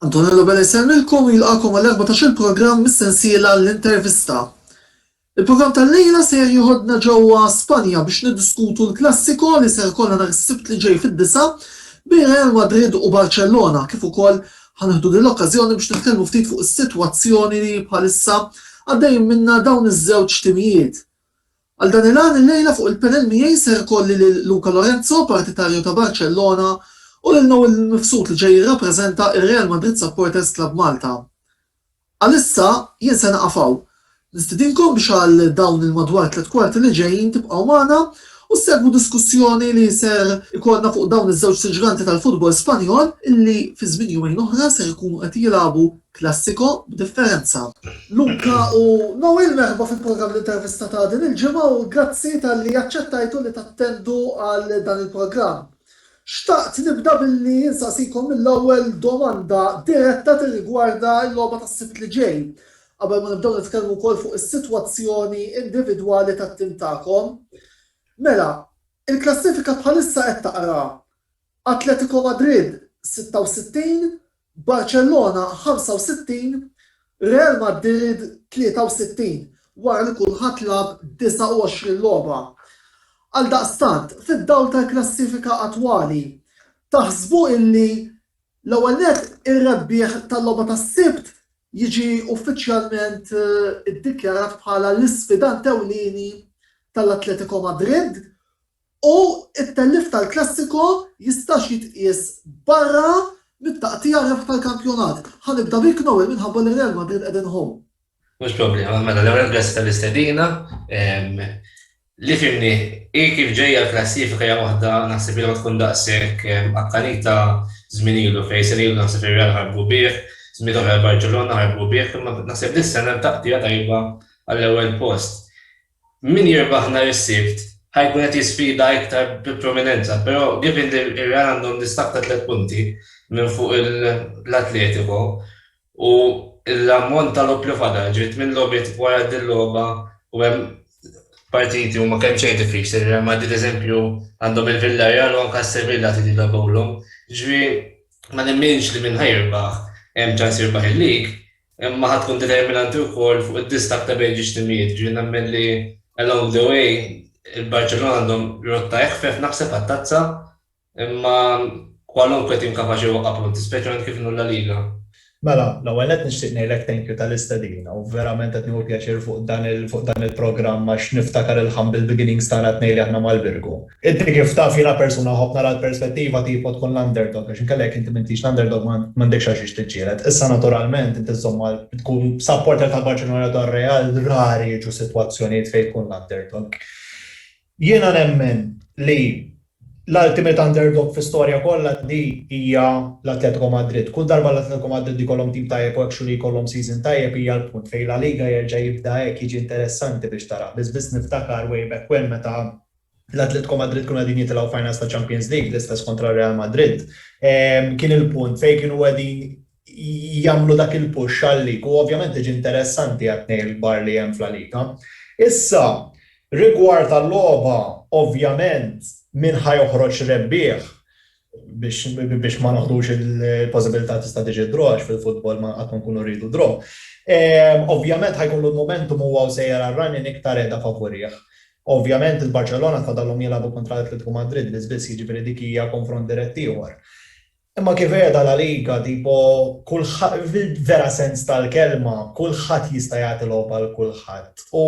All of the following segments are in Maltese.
Antonello Bella jsellmilkom u jilqakom għall-14 programm mis-sensiela l-intervista. Il-programm tal-lejla se jieħodna ġewwa Spanja biex niddiskutu l-klassiko li se jkollna nhar is-Sibt li ġej fid-disa' bejn Real Madrid u Barċellona kif ukoll ħanieħdu din l-okkażjoni biex nitkellmu ftit fuq is-sitwazzjoni li bħalissa għaddejjin minnha dawn iż-żewġ timijiet. Għal dan il-għan illejla fuq il-panel miegħi ser ikolli lil Luca Lorenzo, partitarju ta' Barcellona, u lil Noel Mifsud li ġej jirrappreżenta ir-Real Madrid Supporters Club Malta. Għalissa jien se naqaf hawn. Nistidinkom biex għal dawn il-madwar tliet kwarti li ġejjin tibqgħu magħna u ssegwu diskussjoni li ser ikollna fuq dawn iż-żewġ siġganti tal-futbol Spanjol illi fi żmien jumejn oħra ser ikunu qed jilagħbu Klassiko, b'differenza. Luca u Noel, merħba fil-programm L-Intervista ta' din il-ġimgħa u grazzi talli aċċettajtu li tattendu għal dan il-programm. Xtaqt nibda billi insaqsikom mill-ewwel domanda diretta tirrigwarda l-logħba tas-Sibt li ġej, qabel ma nibdew nitkellmu wkoll fuq is-sitwazzjoni individwali tat-tim tagħkom. Mela, il-klassifika bħalissa qed taqra Atletico Madrid 66, Barcellona 65, Real Madrid 63 wara li kulħadd lagħab 29 logħba. Għaldaqstant, fid-dawl tal-klassifika attwali, taħsbu illi l-ewwel nett ir-rebbieħ tal-logħba tas-Sibt jiġi uffiċjalment iddikjarat bħala l-isfidant ewlieni tal-Atletico Madrid U t-tellif tal-Classico jistax jitqies barra mit-taqtigħa rebħ tal-kampjonat. Ħa nibda bik Noel minħabba li Real Madrid qegħdin home. Mhux problema, mela l-ewwel grazzi tal-istedina. Li fhimni hi kif ġejja l-klassifika hija waħda naħseb li ma tkun daqshekk akkanita żmien ilu fejn sena ilu naħseb ir-Real ħarbu bih, żmien oħra l-Barċellona ħarbu bih, imma naħseb dis-sena t-taqtigħa tajba għall-ewwel post. Min jirbaħ nhar is-Sibt ħa jkun qed jisfida iktar bi prominenza però given li r-Real għandhom distakk ta' tliet punti minn fuq l-Atletico u l-ammont ta' logħob li fadal, ġifieri tmien logħbiet wara din logħba u hemm partiti huma kemm xejn diffiċli, ir-Real Madrid eżempju għandhom il-Villarreal u anke s-Sevilla trid jilagħbulhom, ġifieri ma nemminx li min ħa jirbaħ hemm ċans jirbaħ il-League, Imma ħa tkun determinanti wkoll fuq id-distakk ta' bejn ġiex timijiet. Jiġifieri nemmen li along the way il-Barċellona għandhom rotta eħfef naħseb għat-Tazza imma kwalunkwe tim kapaċi jwaqqa' punti, speċjalment kif inhu l-La Liga. Mela, l-ewwel nett nixtieq ngħidlek thank you tal-istedina u verament qed nieħu pjaċir fuq dan il-programm għax niftakar il-humble beginnings tagħna t-tnejn li aħna mal-Birgu. Inti kif taf jiena persuna nħobb nara l-perspettiva tipo tkun l-underdog għax inkella jekk inti m'intix l-underdog m'għandekx għalxiex tiġġieled. Issa naturalment inti żżomm ma' tkun supporter ta' Barċellona jew ta' Real rari jiġu sitwazzjonijiet fejn tkun l-underdog. Jiena nemmen li l-ultimate underdog fl-istorja kollha di hija l-Atletico Madrid. Kull darba l-Atletico Madrid ikollhom tim tajjeb u actually jkollhom season tajjeb hija l-punt fejn La Liga jerġa' jibda hekk jiġi interessanti biex tarah. Biss biss niftakar way back when meta l-Atletico Madrid kienu qegħdin jitilgħu finals ta' Champions League, l-istess kontra Real Madrid. Kien il-punt fejn kienu qegħdin jagħmlu dak il-push għall-League u ovvjament tiġi interessanti għat-tnejn il-kbar li hemm f'La Liga. Issa, rigward għal-logħba, ovvjament, min ħa joħroġ rebbieħ? biex ma noħdux il-possibilità tista' tiġi draw għax fil-futbol ma qatt ma nkunu rridu draw. Ovvjament ħajkollu l-momentum huwa u sejjer għar-running iktar qiegħda favurih. Ovvjament il-Barċellona tfadallhom jilagħbu kontra l-Atletico Madrid biss biss, jiġifieri dik hija konfront dirett ieħor. Imma kif qiegħda La Liga tipo kulħadd fil-vera sens tal-kelma kulħadd jista' jagħti logħba lil kulħadd u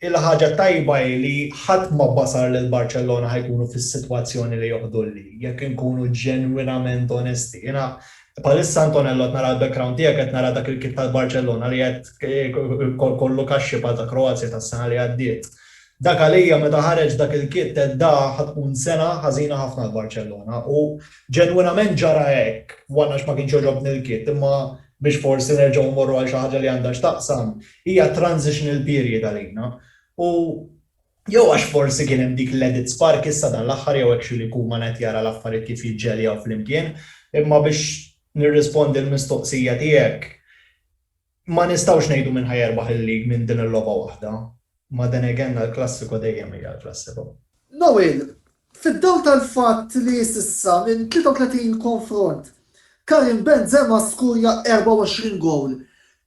Il-ħaġa t-tajba hi li ħadd ma basar li l-Barċellona ħa jkunu fis-sitwazzjoni li joħdu l-league, jekk inkunu ġenwinament onesti. Jiena bħalissa Antonello qed nara l-background tiegħek qed nara dak il-kit tal-Barċellona li qed kollu kaxxi bħal ta' Kroazja tas-sena li għaddiet. Dak għalija meta ħareġ dak il-kit għedt da ħa tkun sena ħażina ħafna għal Barċellona u ġenwinament ġara hekk, one għax ma kienx għoġobni l-kit imma biex forsi nerġgħu mmorru għal xi ħaġa li għandha x'taqsam, Hija transitional period għalina u jew għax forsi kien hemm dik l-edit spark issa dan l-aħħar jew hekk xi li jkun ma ngħid jara l-affarijiet kif jiġġeljaw flimkien imma biex nirrispondi l-mistoqsija tiegħek ma nistgħux ngħidu min ħa jerbaħ il-league minn din il-logħba waħda imma then again l-klassiko dejjem hija l-klassiko. Noel, Fid-dawl tal-fatt li s'issa minn 33 konfront, Karim Benzema skurja 24 gowl,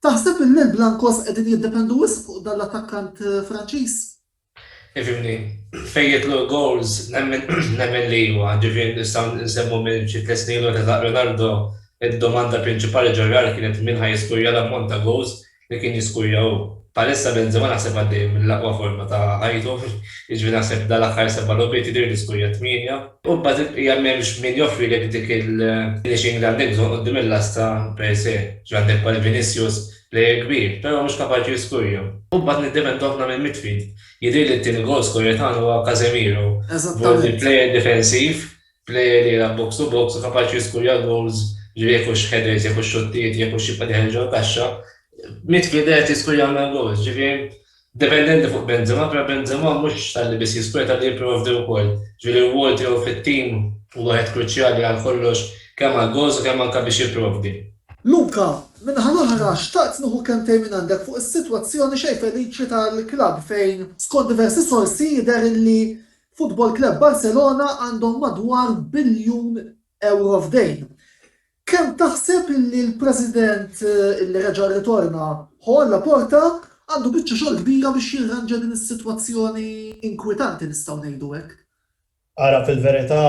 taħseb illi l-Blancos qegħdin jiddependu wisq fuq dan l-attakkant Franċiż? Ġifieri, fejn jidħlu l-gowls nemmen li iva. Ġifieri nistgħu nsemmu minn xi tliet snin 'l ura ta' Ronaldo, id-domanda prinċipali ġo-Real kienet min ħa jiskurja l-ammont ta' gowls li kien jiskujja hu. Bħalissa Benzema naħseb għaddej mill-aqwa forma ta' ħajtu, jiġifieri naħseb dal-aħħar seba' logħbiet jidhirli li skujja tmienja. U mbagħad il-bqija m'hemmx min joffrilek dik il-finishing li għandek bżonn quddiem il-lasta per se. Jiġifieri għandek bħal Vinicius, player kbir, però mhux kapaċi jiskujja. U mbagħad niddependu ħafna mill-midfield. Jidhirli li t-tieni goal scorer tagħna huwa Casemiro. Eżattament. B'hekk il-player difensiv Plejer li jilgħab box to box u kapaċi jiskurja goals, ġifieri jekk hux headers, jekk hux xottijiet, jekk hux jibqa' dieħel ġol-kaxxa. Midfielder qed jiskurjawna goals, ġifieri dependenti fuq Benzema, però Benzema mhux talli biss jiskurja, talli jipprovdi wkoll. Ġifieri r-rwol tiegħu fit-tim hu wieħed kruċjali għal kollox, kemm għall-goals u kemm anke biex jipprovdi. Luka, min-naħa l-oħra, xtaqt nieħu kelmtejn mingħandek fuq is-sitwazzjoni xejn feliċi tal-klabb fejn, skont diversi sorsi, jidher li Futbol Club Barcelona għandhom madwar biljun ewro f'dejn. Kemm taħseb li l-President li reġa' rritorna, Joan Laporta, għandu biċċa xogħol kbira biex jirranġa din is-sitwazzjoni inkwitanti nistgħu ngħidu hekk? Ara fil-verità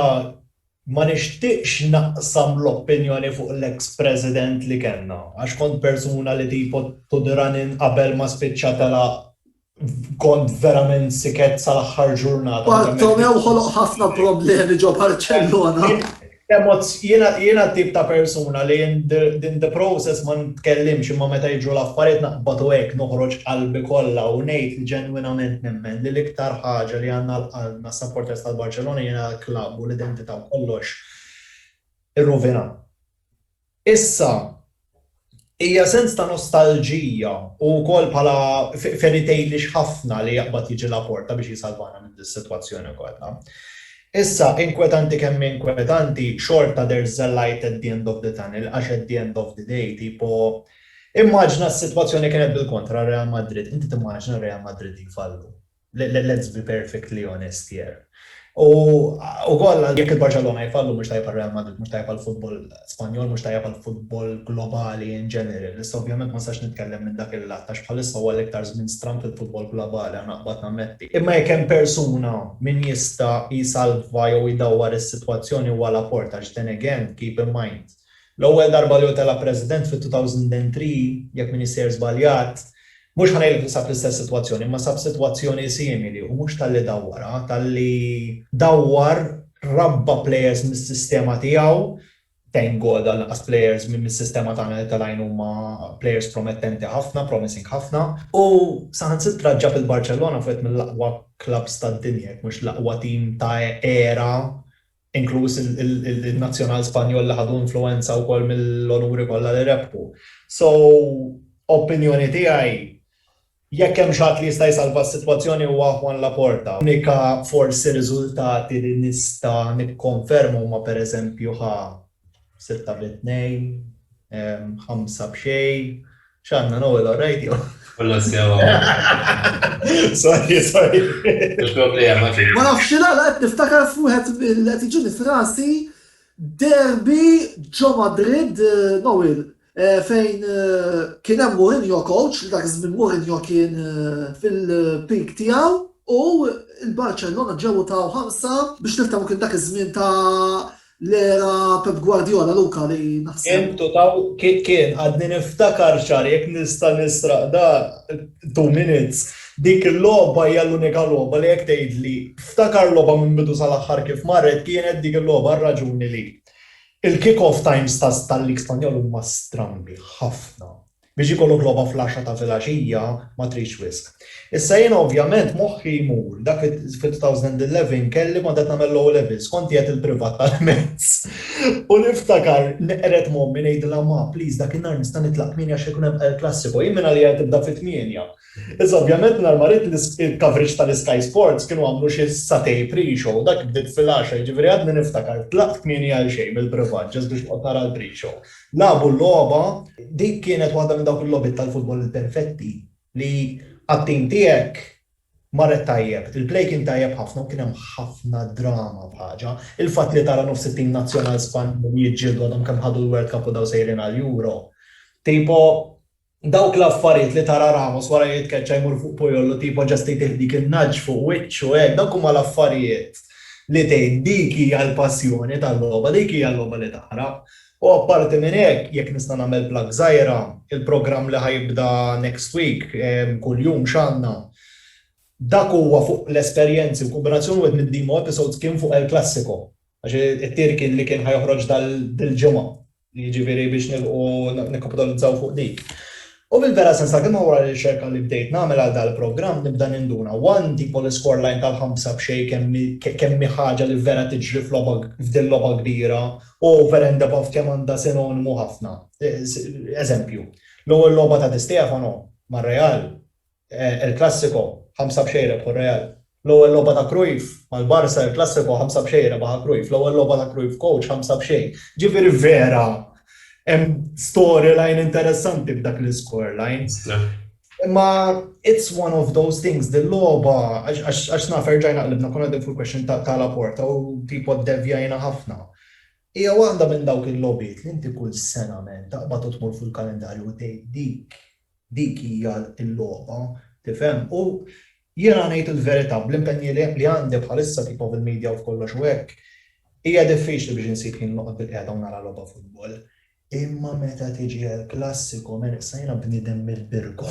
ma nixtieqx naqsam l-opinjoni fuq l-eks President li kellna għax kont persuna li tipo tud running qabel ma spiċċa telaq kont verament siket sal-aħħar ġurnata. Bartomeu ħoloq ħafna problemi ġo Barcellona. Jiena tip ta' persuna li in the process ma nitkellimx imma meta jiġru l-affarijiet naqbad u hekk noħroġ qalbi kollha u ngħid li ġenwinament nemmen li l-iktar ħaġa li għandna għal qalbna s-supporters tal-Barcellona jiena l-klabb u l-identità u kollox irruvinat. Issa, hija sens ta' nostalġija u wkoll bħala fairy tale-ix ħafna li jaqbad jiġi Laporta biex jisalvana minn dis-sitwazzjoni kollha. Issa, inkwetanti kemm hi inkwetanti, xorta there's the light at the end of the tunnel għax at the end of the day tipo immaġina s-sitwazzjoni kienet bil-kontra Real Madrid, inti timmaġina Real Madrid li jfallu? Let's be perfectly honest here. U ukoll jekk il-Barċellona jfallu mhux tajjeb għar-Real Madrid, mhux tajjeb għall-futbol Spanjol, mhux tajjeb għall-futbol globali in general. Issa ovvjament ma nistax nitkellem minn dak il-lat għax bħalissa huwa l-iktar żmien stramb fil-futbol globali, għana qbad nammetti. Imma jekk hemm persuna min jista' jsalva jew jdawwar is-sitwazzjoni huwa Laporta għax then again, keep in mind, L-ewwel darba li hu tela' President fit-2003, jekk m'iniex sejjer żbaljat, mhux ħa ngħidlek li sab l-istess sitwazzjoni, imma sab sitwazzjoni simili u mhux talli dawwarha, talli dawwar, rabba' plejers mis-sistema tiegħu, thank God għal inqas plejers minn mis-sistema tagħna li telgħin huma plejers promettenti ħafna, promising ħafna. U saħansitra ġab il-Barċellona f'wieħed mill-aqwa klabbs tad-dinja, jekk mhux l-aqwa tim ta' era inkluż in-Nazzjonal Spanjol li ħadu influwenza wkoll mill-onuri kollha li rebħu. So, opinjoni tiegħi, jekk hemm xi ħadd li jista' jsalva s-sitwazzjoni huwa Juan Laporta. L-unika forsi riżultati li nista' nikkonferma huma pereżempju ħa sitta bi tnejn, ħamsa b'xejn, x'għandna nowel or radio? Kollu sewa. Sorry, sorry. Il-problema ġi. Ma nafx x'għala qed niftakar f'wieħed li qed jiġini f'rasi derbi ġo Madrid, Nowil, Fejn kien hemm Mourinho coach, li dak iż-żmien Mourinho kien fil-peak tiegħu u l-Barcellona ġew u taw ħarsa biex niftehmu kien dak iż-żmien ta' l-era Pep Guardiola, Luca, li naħseb. Kien u taw, kien, għadni niftakar ċar, jekk nista' nisraq dan, two minutes, dik il-logħba hija l-unika logħba li jekk tgħidli ftakar logħba minn bidu sal-aħħar kif marret kienet dik il-logħba r-raġuni li. Il-kick-off times tal-Lig Spanjol huma strambi ħafna. Biex ikollok logħba fl-għaxra ta' filgħaxija ma tridx wisq. Issa jiena ovvjament moħħi jmur dak li fil-2011 kelli kont qed nagħmel l-O-Levels, kont qiegħed il-privat tal-mezz u niftakar neqred m'ommi ngħidilha ma please dak in-nhar nista' nitlaq tmieni għax se jkun hemm El Classico, jien minn għalija li tibda fit-tmienja. Iżda ovvjament nhar mariet il-coverage tal-Sky Sports kienu għamlu xi satej pre-show, dak bdiet fil-għaxra jiġifieri għadni niftakar tlaqt kmieni għalxejn mill-privat just biex noqgħod nara l-pre-show. Lagħbu l-logħba, dik kienet waħda minn dawk il-logħbiet tal-futbol il-perfetti li għat-tim tiegħek marret tajjeb, il-play kien tajjeb ħafna u kien hemm ħafna drama f'ħaġa. Il-fatt li tara nofs it-tim nazzjonal Spanjol jiġġieldu għadhom kemm ħadu l-World Cup u daw sejrin għall-Euro. Tipo, Dawk l-affarijiet li tara Ramos wara li jitkeċċa jmur fuq Puyol u tipo just jtih dik in-nudge fuq wiċċu hekk, dawk huma l-affarijiet li tgħid dik hija l-passjoni tal-logħba, dik hija l-logħba li tara. U apparti minn hekk, jekk nista' nagħmel plug żgħira, il-programm li ħa jibda next week, kuljum x'għandna, dak huwa fuq l-esperjenzi u kombinazzjoni wieħed mid-demo episodes kien fuq El Classico. Għax it-tir kien li kien ħa joħroġ dil-ġimgħa, jiġifieri biex nilħqu nikkapitalizzaw fuq dik. U fil-vera sens ta' kelma wara r-riċerka li bdejt nagħmel għal dal-programm nibda ninduna, one, tipo l-iskorelajn tal-ħamsa b'xejn kemm hi kemm hi ħaġa li vera tiġri f'logħba f'dil-logħba kbira u vera indebavt kemm għandha sinonimu ħafna. Eżempju, l-ewwel logħba ta' Di Stefano mar-Real El Clasico, ħamsa b'xejn rebħu r-Real. L-ewwel logħba ta' Cruyff mal-Barça, El Clasico, ħamsa b'xejn rebaħha Cruyff. L-ewwel logħba ta' Cruyff coach, ħamsa b'xejn. Ġifieri vera hemm storyline interessanti f'dak l-iscoreline. Imma it's one of those things, dil-logħba għax naf erġajna qlibna konna qegħdin fuq il-question ta' Laporta u tipo ddevjajna ħafna. Hija waħda minn dawk il-logħbiet li inti kull sena taqbad u tmur fuq il-kalendarju u tgħid dik Dik hija l-logħba, tifhem. U jiena ngħid il-verità, bl-impenji li għandi bħalissa tipa bil-media u b'kollox u hekk, hija diffiċli biex insib ħin noqgħod bilqiegħda u nara logħba futbol. Imma meta tiġi għall-klassiko, mela issa jiena bniedem mill-Birgu,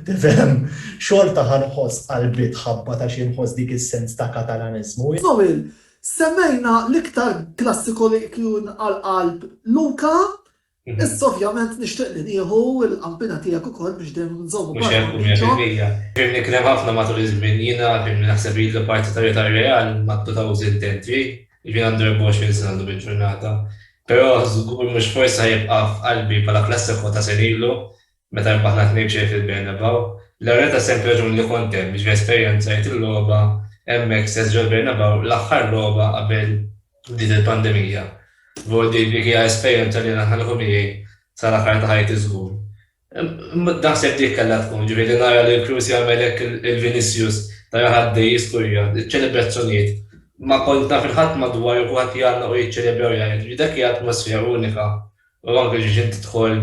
tifhem, xorta ħa nħoss qalbi tħabbat għax jien nħoss dik is-sens ta' Katalaniżmu. Żomil, semmejna l-iktar klassiko li hu nqal qalb Luca, Issa ovvjament nixtieq li nieħu l-qampina tiegħek ukoll biex dejjem nżommu parti minn Mhux hekk u 100%. Kemm nikrah ħafna matul iż-żmien, jiena kemm naħseb li l-partitarja tar-Real ma tputawx intentri, jiġifieri għandu 24 sena llum il-ġurnata, però żgur mhux forsi ħa jibqa' f'qalbi bħala klassiko ta' senilu Meta rbaħna tnejn b'xejn fil-Bernabeu, l-arena ta' semp raġuni li kont hemm biex nesperjenzajt il-logħba hemmhekk stess ġol-Bernabeu l-aħħar logħba qabel bdiet il-pandemija. Żgur li dik hija esperjenza li naħa nieħu miegħi sal-aħħar ta' ħajti żgur. Naħseb dik kellha tkun, ġifieri li nara lil Kroos jagħmel hekk lil Vinicius, nara ħaddej jiskurja, iċ-ċelebrazzjonijiet. Ma kont naf lil ħadd madwari u kulħadd jgħannaq u jiċċelebra u jgħajjat, dak hija atmosfera unika. U anke biex inti tidħol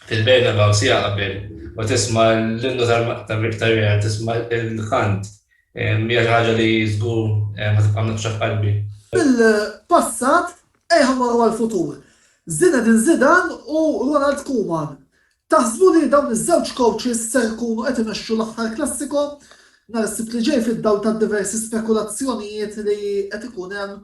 fil-Bernabeu siegħa qabel u tisma' l-innu tar-Real, tisma' l-kant, hija xi ħaġa li żgur ħa tibqa' mnaqqxa f'qalbi. Mill-passat ejħa mmorru għall-futur. Zinedine Zidane u Ronald Koeman. Taħsbu li dawn iż-żewġ coaches ser ikunu qed imexxu l-aħħar Classico nhar is-Sibt li ġej fid-dawl tad-diversi spekulazzjonijiet li qed ikun hemm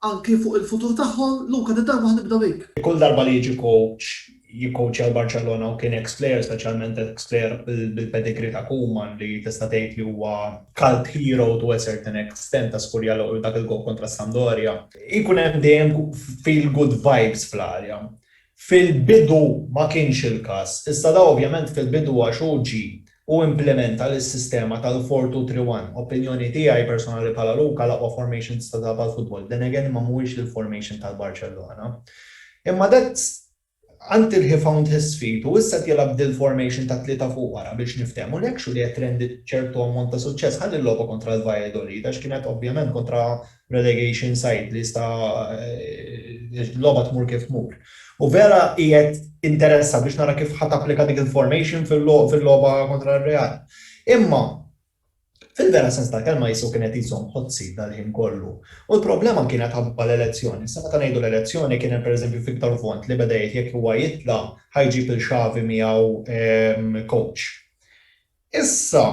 Anki fuq il-futur tagħhom, Luka din darba ħa nibda bik. Kull darba li jiġi kowċ jikkowċja l-Barċellona u kien eks plejer, speċjalment eks plejer bil-pedigree ta' Koeman li tista' tgħid li huwa cult hero to a certain extent ta' Scuriallo u dak il-goal kontra s-Sampdoria, ikun hemm dejjem feel good vibes fl-arja. Fil-bidu ma kienx il-każ, iżda da ovvjament fil-bidu għax hu ġie u implimenta l-sistema tal-four two three one. Opinjoni tiegħi personali bħala Luca l-aqwa formation tista' tilgħab għall-futbol. Then again ma mhuwiex l-formation tal-Barcellona. Imma that's until he found his feet u issa qed jilgħab dil-formation ta' tlieta fuq wara biex niftehmu and actually qed trended ċertu ammont ta' suċċess. Ħa l-logħba kontra l-Valladolid għax kienet ovvjament kontra relegation side li jista' l-logħba tmur kif tmur. U vera qiegħed interessa biex nara kif ħa tapplika dik il-formation fil-logħba kontra r-Real. Imma fil-vera sens tal-kelma qisu kien qed iżomm hot seat dal-ħin kollu. U l-problema kienet ħabba l-elezzjoni. Issa meta ngħidu l-elezzjoni kien hemm pereżempju Victor Font li beda jgħid jekk huwa jitla' ħa jġib lil Xavi miegħu coach. Issa,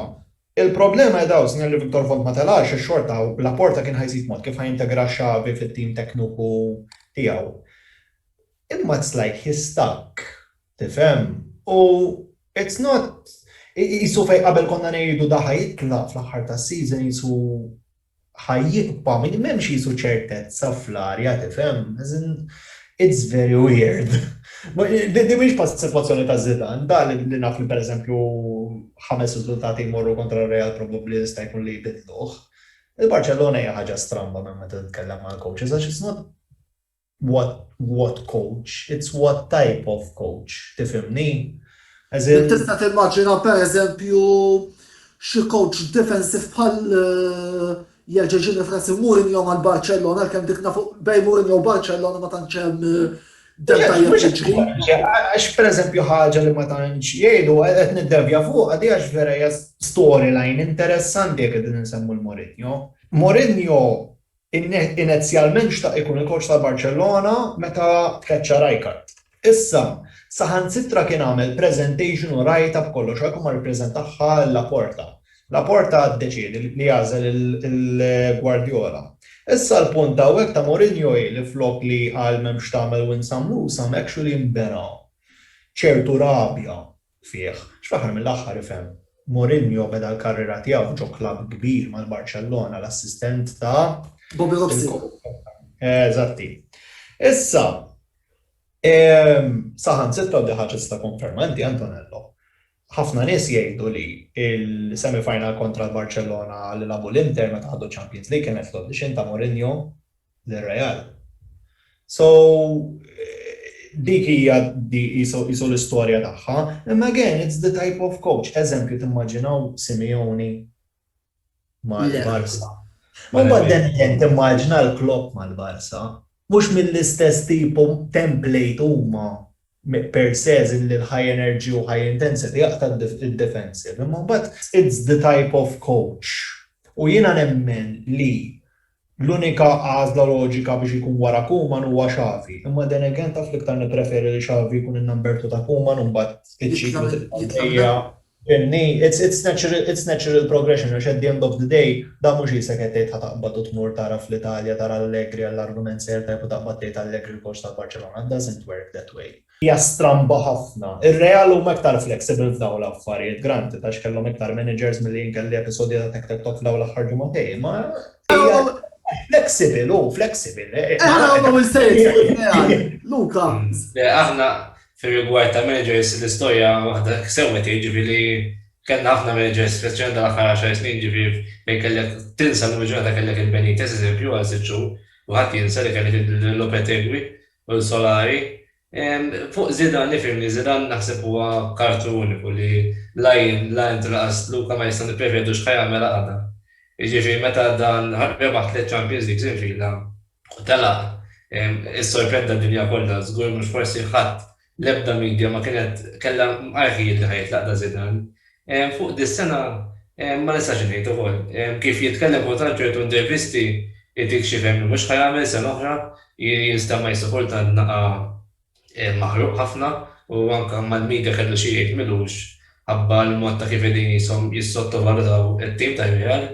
il-problema qiegħda hawn, sinjal li Victor Vond ma telax għax xorta Laporta kien ħa jsib mod kif ħa jintegra Xavi fit-tim tekniku tiegħu. Imma it's like he's stuck, tifhem? U it's not, qisu fejn qabel konna ngħidu da ħa jitlaq fl-aħħar tas-season qisu ħa jibqa' min m'hemmx qisu ċertezza fl-arja tifhem? As in it's very weird. Din mhix bħal sitwazzjoni ta' Zidane, da li naf li pereżempju ħames riżultati jmorru kontra r-Real probbabbli jista' jkun li jbiddluh. Il-Barċellona hija ħaġa stramba meta titkellem mal-coaches għax it's not what what coach, it's what type of coach, tifhimni? As in. Tista' timmaġina pereżempju xi coach defensive bħal jgħeġeġini f'rasi Mourinho mal-Barcellona għalkemm dik nafu bejn Mourinho u Barcellona ma tantx hemm Għax per eżempju ħaġa li ma tantx jgħidu qed niddevja fuq għadi għax vera hija storyline interessanti jekk qegħdin insemmu l-Mourinho. Mourinho Inezjalment xtaq ikun il-kowċ tal-Barċellona meta tkeċċa Rijkaard. Issa, saħansitra kien għamel preżentation u rajtha b'kollox għalkemm ma rippreżentahha lil Laporta. Laporta ddeċiedi li jagħżel lil Guardiola. Issa l-punt hawnhekk ta' Mourinho hi li flok li jqal m'hemm x'tagħmel u insam luz hawn actually nbena ċertu rabja fih. X'fl-aħħar mill-aħħar ifhem. Mourinho beda l-karriera tiegħu ġo klabb kbir mal-Barċellona, l-assistent ta'. Bobby Robson. Eżatti. Issa, saħansitra u di ħaġa tista' tikkonferma inti Antonello, ħafna nies jgħidu li l-semi-final kontra l-Barċellona li lagħbu l-Inter meta ħadu ċ-Champions League kienet fl-audition ta' Mourinho lir-Real. So dik hija qisu l-istorja tagħha. Imma again, it's the type of coach. Eżempju, timmaġinaw Simeone mal-Barça? Imbagħad then again timmaġina l-Klopp mal-Barça. Mhux mill-istess tipo template huma. Pearl says illi l-high energy u high intensity jaqta' d-defensive imma mbagħad it's the type of coach u jiena nemmen li l-unika għażla loġika biex ikun wara Koeman huwa Xavi imma then again taf l-iktar nippreferi li Xavi jkun in-number two ta' Koeman u mbagħad iċ-ċiklu tibqa' għaddejja. Jenny, It's natural progression għax at the end of the day dan mhux qisek qed tgħid ħa taqbad u tmur tara fl-Italja tara Allegri għall-argument sejjer tajjeb u taqbad tgħid Allegri l-coach tal-Barċelona. It doesn't work that way. Hija stramba ħafna. Ir-Real huma iktar flexible f'dawn l-affarijiet, granted, għax kellhom iktar managers milli jien kelli episodji ta' tek tek tok f'dawn l-aħħar ġimagħtejn, imma hija flexible, hu flexible. Aħna l-ewwel sejjer Real. Luka. Le, aħna Fir-rigward tal-managers, l-istorja waħda hekk sewwa tgħid, ġifieri kellna ħafna managers, speċjalment dan l-aħħar għaxar snin, ġifieri fejn kellek tinsa llum il-ġurnata kellek il-Benitez, eżempju, għal sitt xhur, u ħadd jinsa li kellek lil Lopetegui u lil Solari. Fuq Zidane, ifhimni, Zidane naħseb huwa kartu uniku li la jien, la int u lanqas Luca ma nistgħu nipprevedux x'ħa jagħmel għada. Jiġifieri meta dan rebaħ tliet Champions Leagues infila, u telaq issorprenda d-dinja kollha, żgur mhux forsi ħadd, l-ebda media ma kienet kellha mqarrħijiet li ħa jitlaq Da Zidane. Fuq dis-sengħa ma nistax ngħid ukoll. Kif jitkellem kultant ċertu intervisti jtik xi fehem li mhux ħa jagħmel sena oħra, jinstema' issa kultant naqa' maħruq ħafna u anke mal-media kellu xi jgħid m'ilux ħabba l-mod ta' kif qegħdin qishom jissottovalutaw it-tim tar-Real.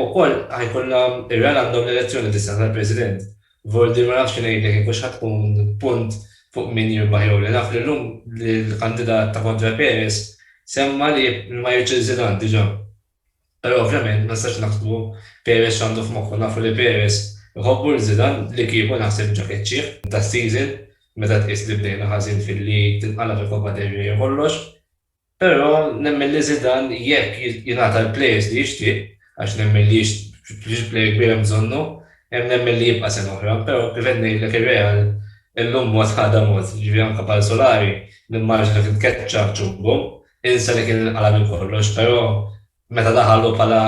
Ukoll ħa jkollna r-Real għandhom l-elezzjoni dis-sena tal-President. Vordi ma nafx xi ngħidlek jekk hux ħa tkun punt fuq min jirbaħ jew le. Naf li llum l-kandidat ta' kontra Perez semma li ma jridx il-Zidane diġà. Però ovvjament ma nistax naħsbu Perez x'għandu f'moħħu, nafu li Perez iħobbu lil Zidane li kieku naħseb ġa keċċieh das-season meta tqis li bdejna ħażin fil-league, tinqalab il-Coppa del Rey u kollox. Però nemmen li Zidane jekk jingħata l-players li jixtieq, għax nemmen li jixtieq player kbir hemm bżonnu, hemm nemmen li jibqa' sena oħra. Però kif qed ngħidlek ir-Real illum mod għada mod, jiġifieri anke bħal Solari nimmaġina kien tkeċċa ċ-ċumbum. Insa li kien inqala' minn kollox, però meta daħal hu bħala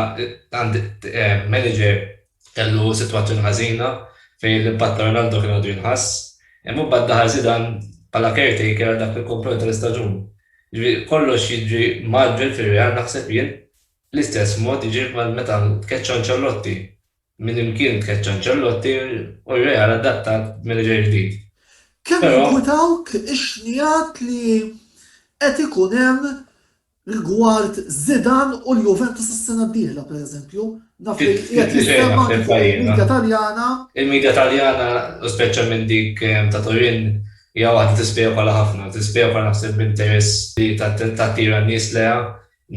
għand manager kellu sitwazzjoni ħażina fejn l-impatt ta' Ronaldo kien għadu jinħass. Imma mbagħad daħal Zidane bħala caretaker għal dak il-komponent tal-istaġun. Jiġifieri kollox jiġri mgħaġġel fir-Real naħseb jien. L-istess mod jiġri meta tkeċċa Ancelotti. Minn imkien tkeċċa Ancelotti u r-Real adattat b'manager ġdid. Kemm jinkwitawk ix-xnigħat li qed ikun hemm rigward Zidane u l-Juventus is-sena d-dieħla, pereżempju. Naf li qiegħed jinstema' anki fuq il-midja Taljana. Il-midja Taljana, u speċjalment dik ta' Turin, hija waħda tispekola ħafna. Tispekola naħseb b'interess li tattira n-nies lejha.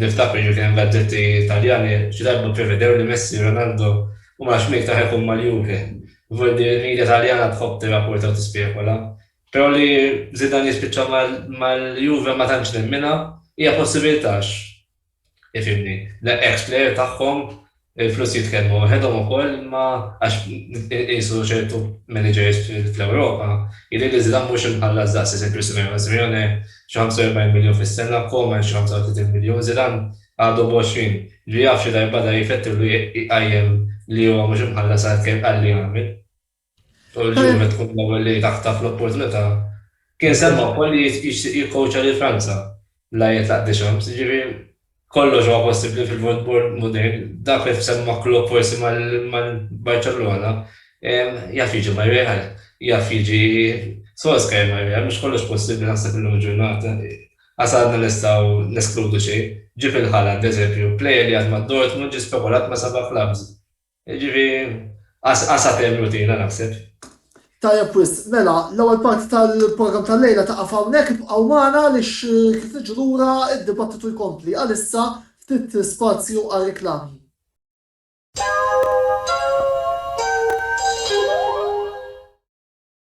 Niftakru jiġri kien hemm gazzetti Taljani xi darba pprevedew li Messi u Ronaldo u ma nafx min iktar ħa jkun mal-Juve. Żgur li l-media Taljana tħobb tirrapporta u tispekula. Però li Zidane jispiċċa mal-Juve ma tantx nemminha. Hija possibilità għax, ifhimni, l-ex player tagħhom Il-flus jitkellmu waħedhom ukoll imma għax inqisu ċertu managers fl-Ewropa, jidhirli li Zidane mhux imħallas daqs isem Chris Simeone. Simeone xi 45 miljun fis-sena, Koeman xi 35 miljun, Zidane għadu b'għoxrin. Li jaf xi darb'għada jifettillu jqajjem li huwa mhux imħallas għall-li għamel. Tul il-ġimgħa li tkun l-ewwel li taħtaf l-opportunità. Kien semma wkoll li jixtieq jikkowċja lil Franza bla jitlaq Deschamps, jiġifieri kollox huwa possibbli fil-football modern. Dak li semma Klopp forsi mal-Barċellona, jaf jiġi mar-Real, jaf jiġi Solskjaer mar-Real, mhux kollox possibbli naħseb illum il-ġurnata. Qas għadna nistgħu neskludu xejn. Ġie fil-ħala, bl-eżempju, plejer li għad ma' Dortmund ġie spekolat ma' seba' klabbs. Jiġifi għas għas għatem rutina naħseb. Tajjeb wisq, mela l-ewwel parti tal-programm tal-lejla taqaf hawnhekk, ibqgħu magħna għaliex kif niġu lura d-dibattitu jkompli. Għalissa ftit spazju għar-riklami.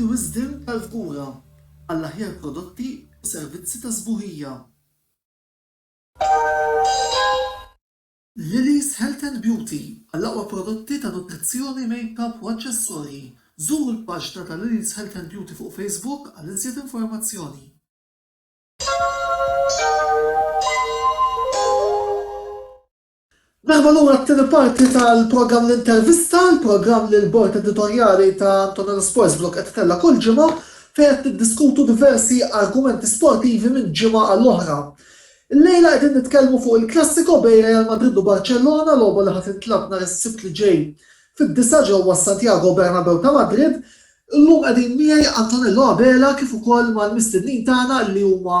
Juri wisdem tal-kura għall-aħjar prodotti u servizzi ta' sbuħija. Lily's Health and Beauty għall-aqwa prodotti ta' nutrizzjoni, makeup u aċċessorji. Żuru l-paġna ta' Lily's Health and Beauty fuq Facebook għal iżjed informazzjoni. Merħba lura għat-tieni parti tal-programm L-Intervista, il-programm li l-Bord Editorjali ta' Antonella Sports Blog qed itella' kull ġimgħa fejn qed niddiskutu diversi argumenti sportivi minn ġimgħa għal oħra. Illejla qegħdin nitkellmu fuq il-klassiko bejn Real Madrid u Barċellona, logħba li ħa tintlagħab nhar is-Sibt li ġej fid-disgħa ġewwa s-Santiago Bernabeu ta' Madrid Illum qegħdin miegħi Antonello Abela kif ukoll mal-mistednin tagħna li huma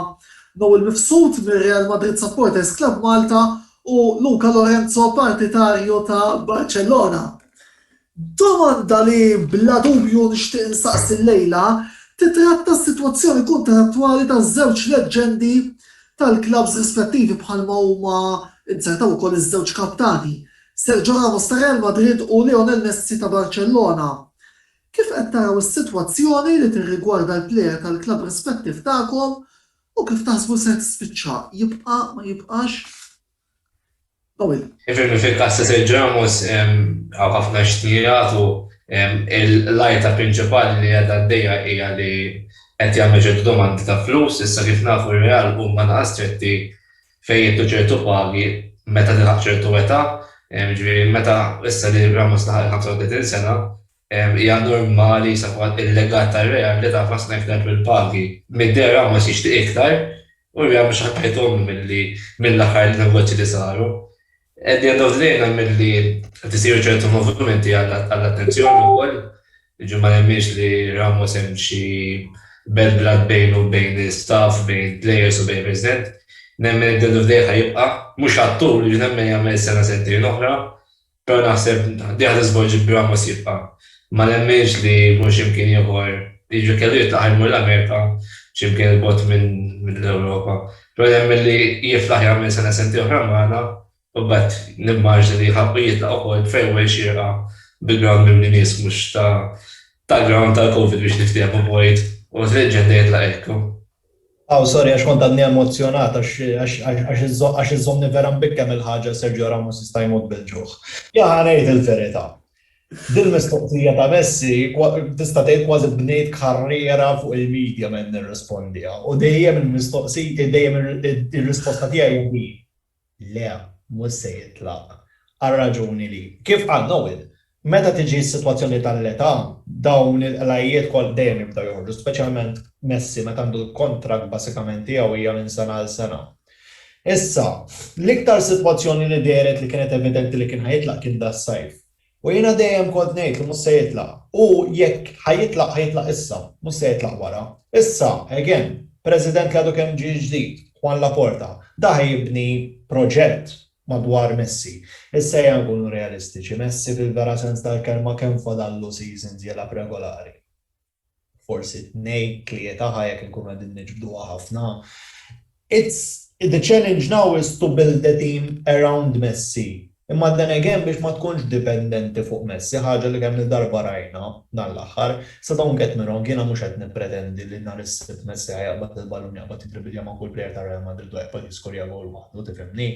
Noel Mifsud mir-Real Madrid Supporters Club Malta u Luca Lorenzo partitarju ta' Barcellona. Domanda li bla dubju nixtieq insaqsi llejla titratta s-sitwazzjoni kuntrattwali ta' żewġ leġġendi tal-klabbs rispettivi bħalma huma inzertaw ukoll iż-żewġ kaptani, Sergio Ramos ta' Real Madrid u Lionel Messi ta' Barcellona. Kif qed taraw is-sitwazzjoni li tirrigwarda l-plejer tal-klabb rispettiv tagħkom u kif taħsbu ser tispiċċa, jibqa', ma jibqax? Dawil. Ifhimni fil-każ ta' Sergio Ramos hawn ħafna x'qed jingħad u l-għajta prinċipali li qiegħda għaddejja hija li qed jagħmlu ċertu domandi ta' flus, issa kif nafu r-Real huma anqas stretti fejn jingħtu ċertu pagi meta tilħaq ċertu età, jiġifieri meta issa li Ramos laħaq il-35 sena, hija normali issa fil-fatt il-legat tar-Real li taf ħafna iktar fil-pagi. Mid-deher Ramos jixtieq iktar u r-Real mhux ħa tgħidhomlu mill-aħħar negozji li saru. Qegħdin għaddew dlejna milli qed isiru ċertu movimenti għall-attenzjoni wkoll. Jiġifieri ma nemminx li Ramos hemm xi bad blood bejnu u bejn l-istaff, bejn il-plejers u bejn il-President. Nemmen li Delu f'dejh ħa jibqa', mhux għat-tul, jiġifieri nemmen jagħmel sena sentejn oħra, però naħseb dejh ħa tiżvolġi b'Ramos jibqa'. Ma nemminx li jkun xi mkien ieħor, jiġifieri kellu jitlaq ħa jmur l-Amerika, xi mkien 'il bogħod mill-Ewropa. Però jemmen li jiflaħ jagħmel sena sentejn oħra magħna u mbagħad nimmaġna li jħabb u jitlaq ukoll b'farewell xierqa bi ground mimli nies mhux ta' tal-ground tal-Covid biex niftehmu Boyd u t-leġġenda jitlaq hekk. Aw sorry għax kont għadni emozzjonat għax iżżommni vera mbikkem il-ħaġa Sergio Ramos jista' jmut bil-ġuħ. Jahh ngħid il-verità, Dil-mistoqsija ta' Messi tista' tgħid kważi bnejt karriera fuq il-media meta nirrispondiha u dejjem il-mistoqsija dejjem ir-risposta tiegħi hija din, le, mhux se jitlaq. Għar-raġuni li, kif qal Noel, meta tiġi s-sitwazzjoni tal-età, dawn il-qlajjiet kollha dejjem jibdew joħorġu, speċjalment Messi meta għandu l-kuntratt basikament tiegħu hija minn sena għal sena. Issa, l-iktar sitwazzjoni li dehret li kienet evidenti li kien ħa jitlaq kien das-sajf. U jiena dejjem kont ngħid li mhux se jitlaq. U jekk ħa jitlaq, ħa jitlaq issa, mhux se jitlaq wara. Issa, again, President li għadu kemm ġie ġdid, Juan Laporta, da ħa jibni proġett madwar Messi. Issa ejja nkunu realistiċi, Messi fil-vera sens tal-kelma kemm fadallu seasons jilgħab regolari? forsi tnejn, tlieta ħa jekk inkunu qegħdin niġbduha ħafna. It's the challenge now is to build the team around Messi. Imma then again biex ma tkunx dipendenti fuq Messi, ħaġa li kemm-il darba rajna dan l-aħħar. So don't get me wrong, jiena mhux qed nippretendi li nhar is-Sibt Messi ħa jaqbad il-ballun, jaqbad jidribilja ma' kull plejer ta' Real Madrid u jaqbad jiskorja gowl waħdu, tifhimni?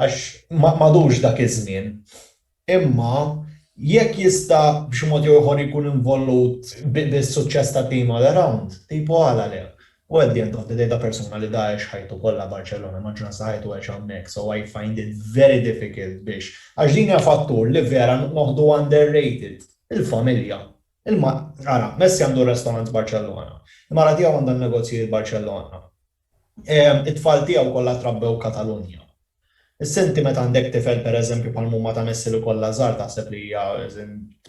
Għax m'għadux dak iż-żmien. Imma, jekk jista' b'xi mod jew ieħor ikun involut bis-suċċess ta' tim all around, tipo għala le? Hu at the end of the day ta' persuna li da għex ħajtu kollha Barċellona, maġġoranza ta' ħajtu għexha hemmhekk, so I find it very difficult biex, għax din hija fattur li vera noħdu under rated, il-familja. Ara, Messi għandu r-restorant Barċellona, il-mara tiegħu għandha n-negozji Barċellona. It-tfal tiegħu kollha trabbew Katalunja. Issa inti meta għandek tifel pereżempju bħal mumma ta' Messi li kollha żgħar taħseb li hija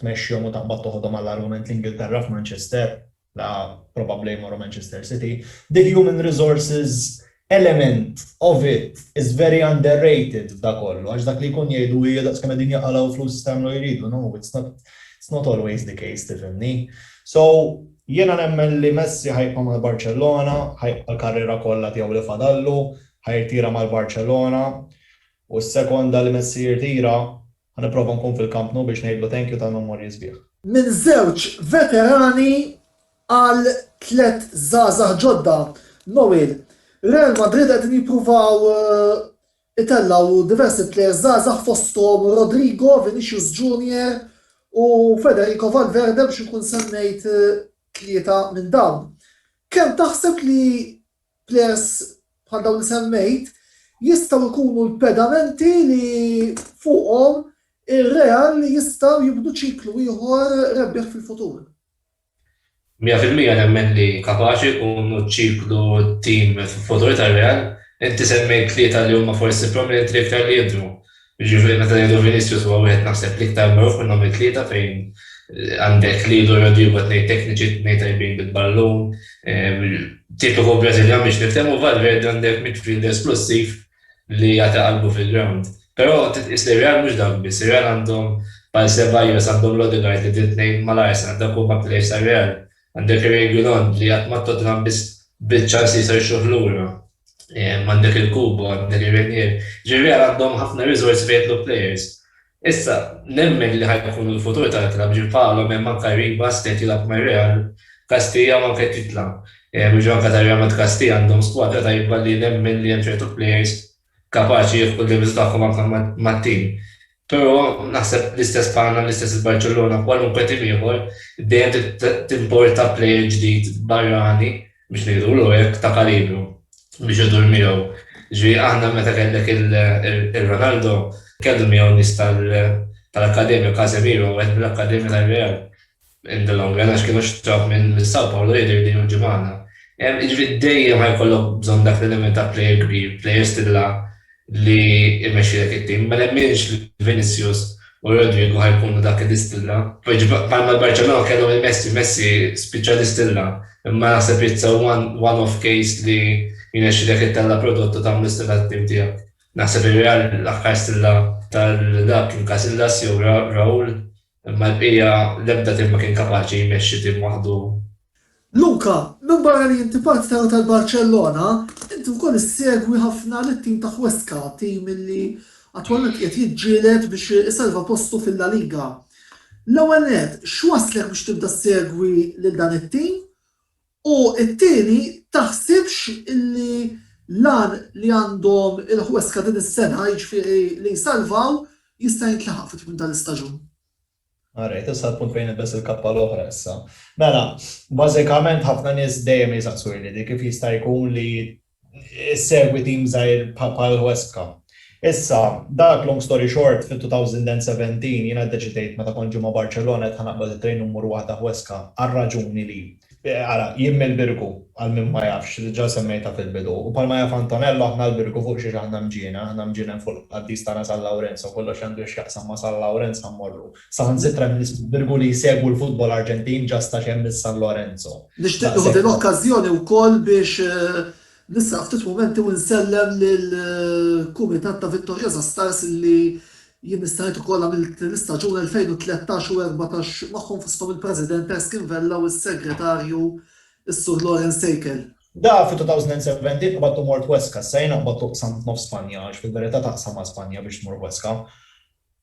tmexxihom u taqbad toħodhom għall-argument l-Ingilterra f'Manchester, la probabbli jmorru Manchester City. The human resources element of it is very underrated f'da kollu għax dak li jkun jgħidu hi daqs kemm qegħdin jaqalgħu flus jista' jagħmlu jridu, no it's not always the case tifhimni. So, Jiena nemmen li Messi ħa jibqa' mal-Barċellona, ħa jibqa' l-karriera kollha tiegħu li fadallu, ħa jirtira mal-Barċellona u s-sekonda li Messi jirtira ħa nipprova nkun fil-Camp Nou biex ngħidlu thank you tal-memorji sbieħ. Minn żewġ veterani għal tliet żgħażagħ ġodda, Noel, Real Madrid qegħdin jippruvaw Itellgħu diversi plejers żgħażagħ fosthom Rodrygo, Vinicius Junior u Federico Valverde biex inkun semmejt tlieta minn dawn. Kemm taħseb li plejers bħal dawn li semmejt jistgħu jkunu l-pedamenti li fuqhom ir-Real jistgħu jibnu ċiklu ieħor rebbieħ fil-futur? Mija fil-mija nemmen li kapaċi u nċiklu t-tim fil-futur tar-Real. Inti semmejt tlieta li huma forsi prominenti l-iktar li jidhru. Jiġifieri meta ngħidu Vinicius huwa wieħed naħseb l-iktar magħruf minnhom it-tlieta fejn għandek Lil u Rodrygo tnejn tekniċi, tnejn tajbin bil-ballun, tipiku Brażiljan biex niftehmu, Valverde għandek midfielder splussiv, li jagħti qalbu fil-ground. Però trid tqis li r-Real mhux dawk biss, ir-Real għandhom bħal Ceballos, għandhom l-Odegaard li trid tnejn mal-Arsenal, dawk huma players tar-Real. Għandek ir-Reguilon li qatt ma' Tottenham biss biċ-ċans li jista' jixxuh lura. Għandek il-Kubo, għandek ir-Reinier. Jiġifieri r-Real għandhom ħafna riżorsi fejn jidħlu players. Issa, nemmen li ħa jkun il-futur tal-klabb ġie bħalhom hemm anke Ribas li qed jilgħab mar-Real, Castilla u anke Titla. Jiġu anke ta' Real Madrid Castilla għandhom skwadra tajba li nemmen li hemm ċertu plejers kapaċi jieħdu l-levels tagħhom anke mat-tim. Però naħseb l-istess bħalna, l-istess il-Barċellona, kwalunkwe tim ieħor, dejjem trid timporta plejer ġdid barrani biex ngħidulu hekk, ta' kalibru biex idur miegħu. Ġifieri aħna meta kellek il-Ronaldo, kellu miegħu nies tal-akkademja, Casemiro wieħed mill-akkademja tar-Real in the long run għax kienu xtrawh minn Sao Paolo jidher li hu ġie magħna. Jiġifieri dejjem ħajkollok bżonn dak l-element ta' plejer kbir, plejer stilla li jmexxilek it-tim. Ma nemminx li Vinicius u Rodrygo ħa jkunu dak li distilla. Bħalma l-Barċellona kellhom lil Messi, Messi spiċċa distilla, imma naħseb it's a one off case li jnexxilek ittella' prodott u tagħmlu stilla għat-tim tiegħek. Naħseb ir-Real l-aħħar stilla tal-lagħab kien Casillas jew Raul. Imma l-bqija, l-ebda tim ma kien kapaċi jmexxi tim waħdu. Luka, minbarra li inti parti ta' Rotel Barċellona, inti wkoll issegwi ħafna lit-tim ta' Huesca, tim li attwalment qiegħed jiġġieled biex isalva postu fil-La Liga. L-ewwel nett, x'wasslek biex tibda ssegwi lil dan it-tim? U t-tieni, taħsibx li l-għan li għandhom il-Huesca din is-sena, jiġifieri li jsalvaw, jista' jintlaħaq fi tmiem tal-istaġun? All right, issa l-punt fejn nilbes il-kappa l-oħra issa. Mela, bażikament ħafna nies dejjem jisaqsuni li kif jista' jkun li issegwi tim żgħir bħal Huesca. Issa, dak long story short, fit-2017 jiena ddeċidejt meta kont ġej ma' Barċellona qed ħa naqbad it-trejn u mmur waħda Huesca għar-raġuni li. Ara, jien mill-Birgu, għal min ma jafx, li diġà semmejtha fil-bidu, u bħalma jaf Antonello aħna l-Birgu fuq xiex aħna mġiena, aħna mġienen fuq il-qaddis tagħna San Lawrenz, so kollox li għandu x'jaqsam ma' San Lawrenz ħa mmorru. Saħansitra minn ismu birgu li jsegwu l-futbol Arġentin ġa sta xemm il-San Lorenzo. Nixtieq nieħu din l-okkażjoni wkoll biex nisraq ftit mumenti u nsellem lill-kumitat ta' Victorious Astars li jien nistħajt ukoll għamilt l-istaġun 2013 u 14 magħhom fosthom il-President Erskine Vella u s-Segretarju s-Sur Lawrence Seikel. Da fi 2017 qbadt u mort Huesca, issa jien naqbad u qsamt nofs Spanja għax fil-verità taqsam ma' Spanja biex tmur Huesca.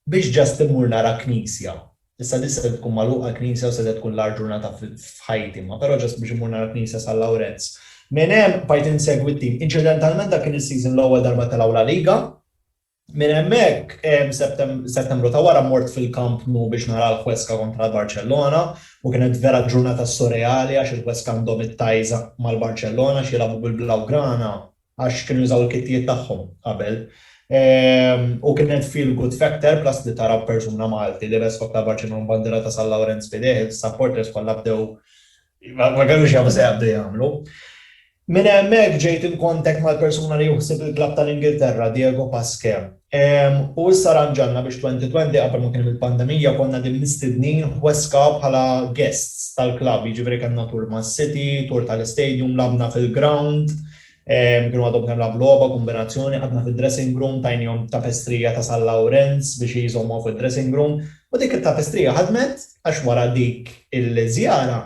Biex just immur nara knisja. Issa di setgħet tkun magħluqa l-knisja u setgħet tkun l-agħar ġurnata f'ħajti, imma però just biex immur nara knisja San Lawrenz. Minn hemm bqajt insegwi t-tim. Inċidentalment dak kien is-season l-ewwel darba telgħu La Liga. Minn hemmhekk, Settembru ta' wara mort fil-Camp Nou biex nara l-Huesca kontra l-Barċellona u kienet vera ġurnata surreali għax il-Huesca għandhom it-ties mal-Barċellona għax jilagħbu bil-Blaugrana. għax kienu jużaw il-kittijiet tagħhom qabel. U kien hemm fil good factor plus li tara persuna Malti libes f'għodd ta' Barcellona u bandiera ta' San Lawrenz f'idejh, is-supporters kollha bdew ma kellux jafu se jaqbdu jagħmlu. Minn hemmhekk ġejt in contact mal-persuna li hu ħsieb il-klabb tal-Ingilterra, Diego Pasquet. U issa rranġajna biex 2020 qabel ma kien hemm il-pandemija konna qegħdin mistednin Huesca bħala guests tal-klabb, jiġifieri kellna tour mas-city, tour tal-istadium, lagħbna fil-ground, kienu għadhom kemm lagħbu logħba, kombinazzjoni, qgħadna fid-dressing room, tajniehom tapestrija ta' San Lawrenz biex jżommuha fuq id-dressing room u dik it-tapestrija ħadmet għax wara dik il-żjara,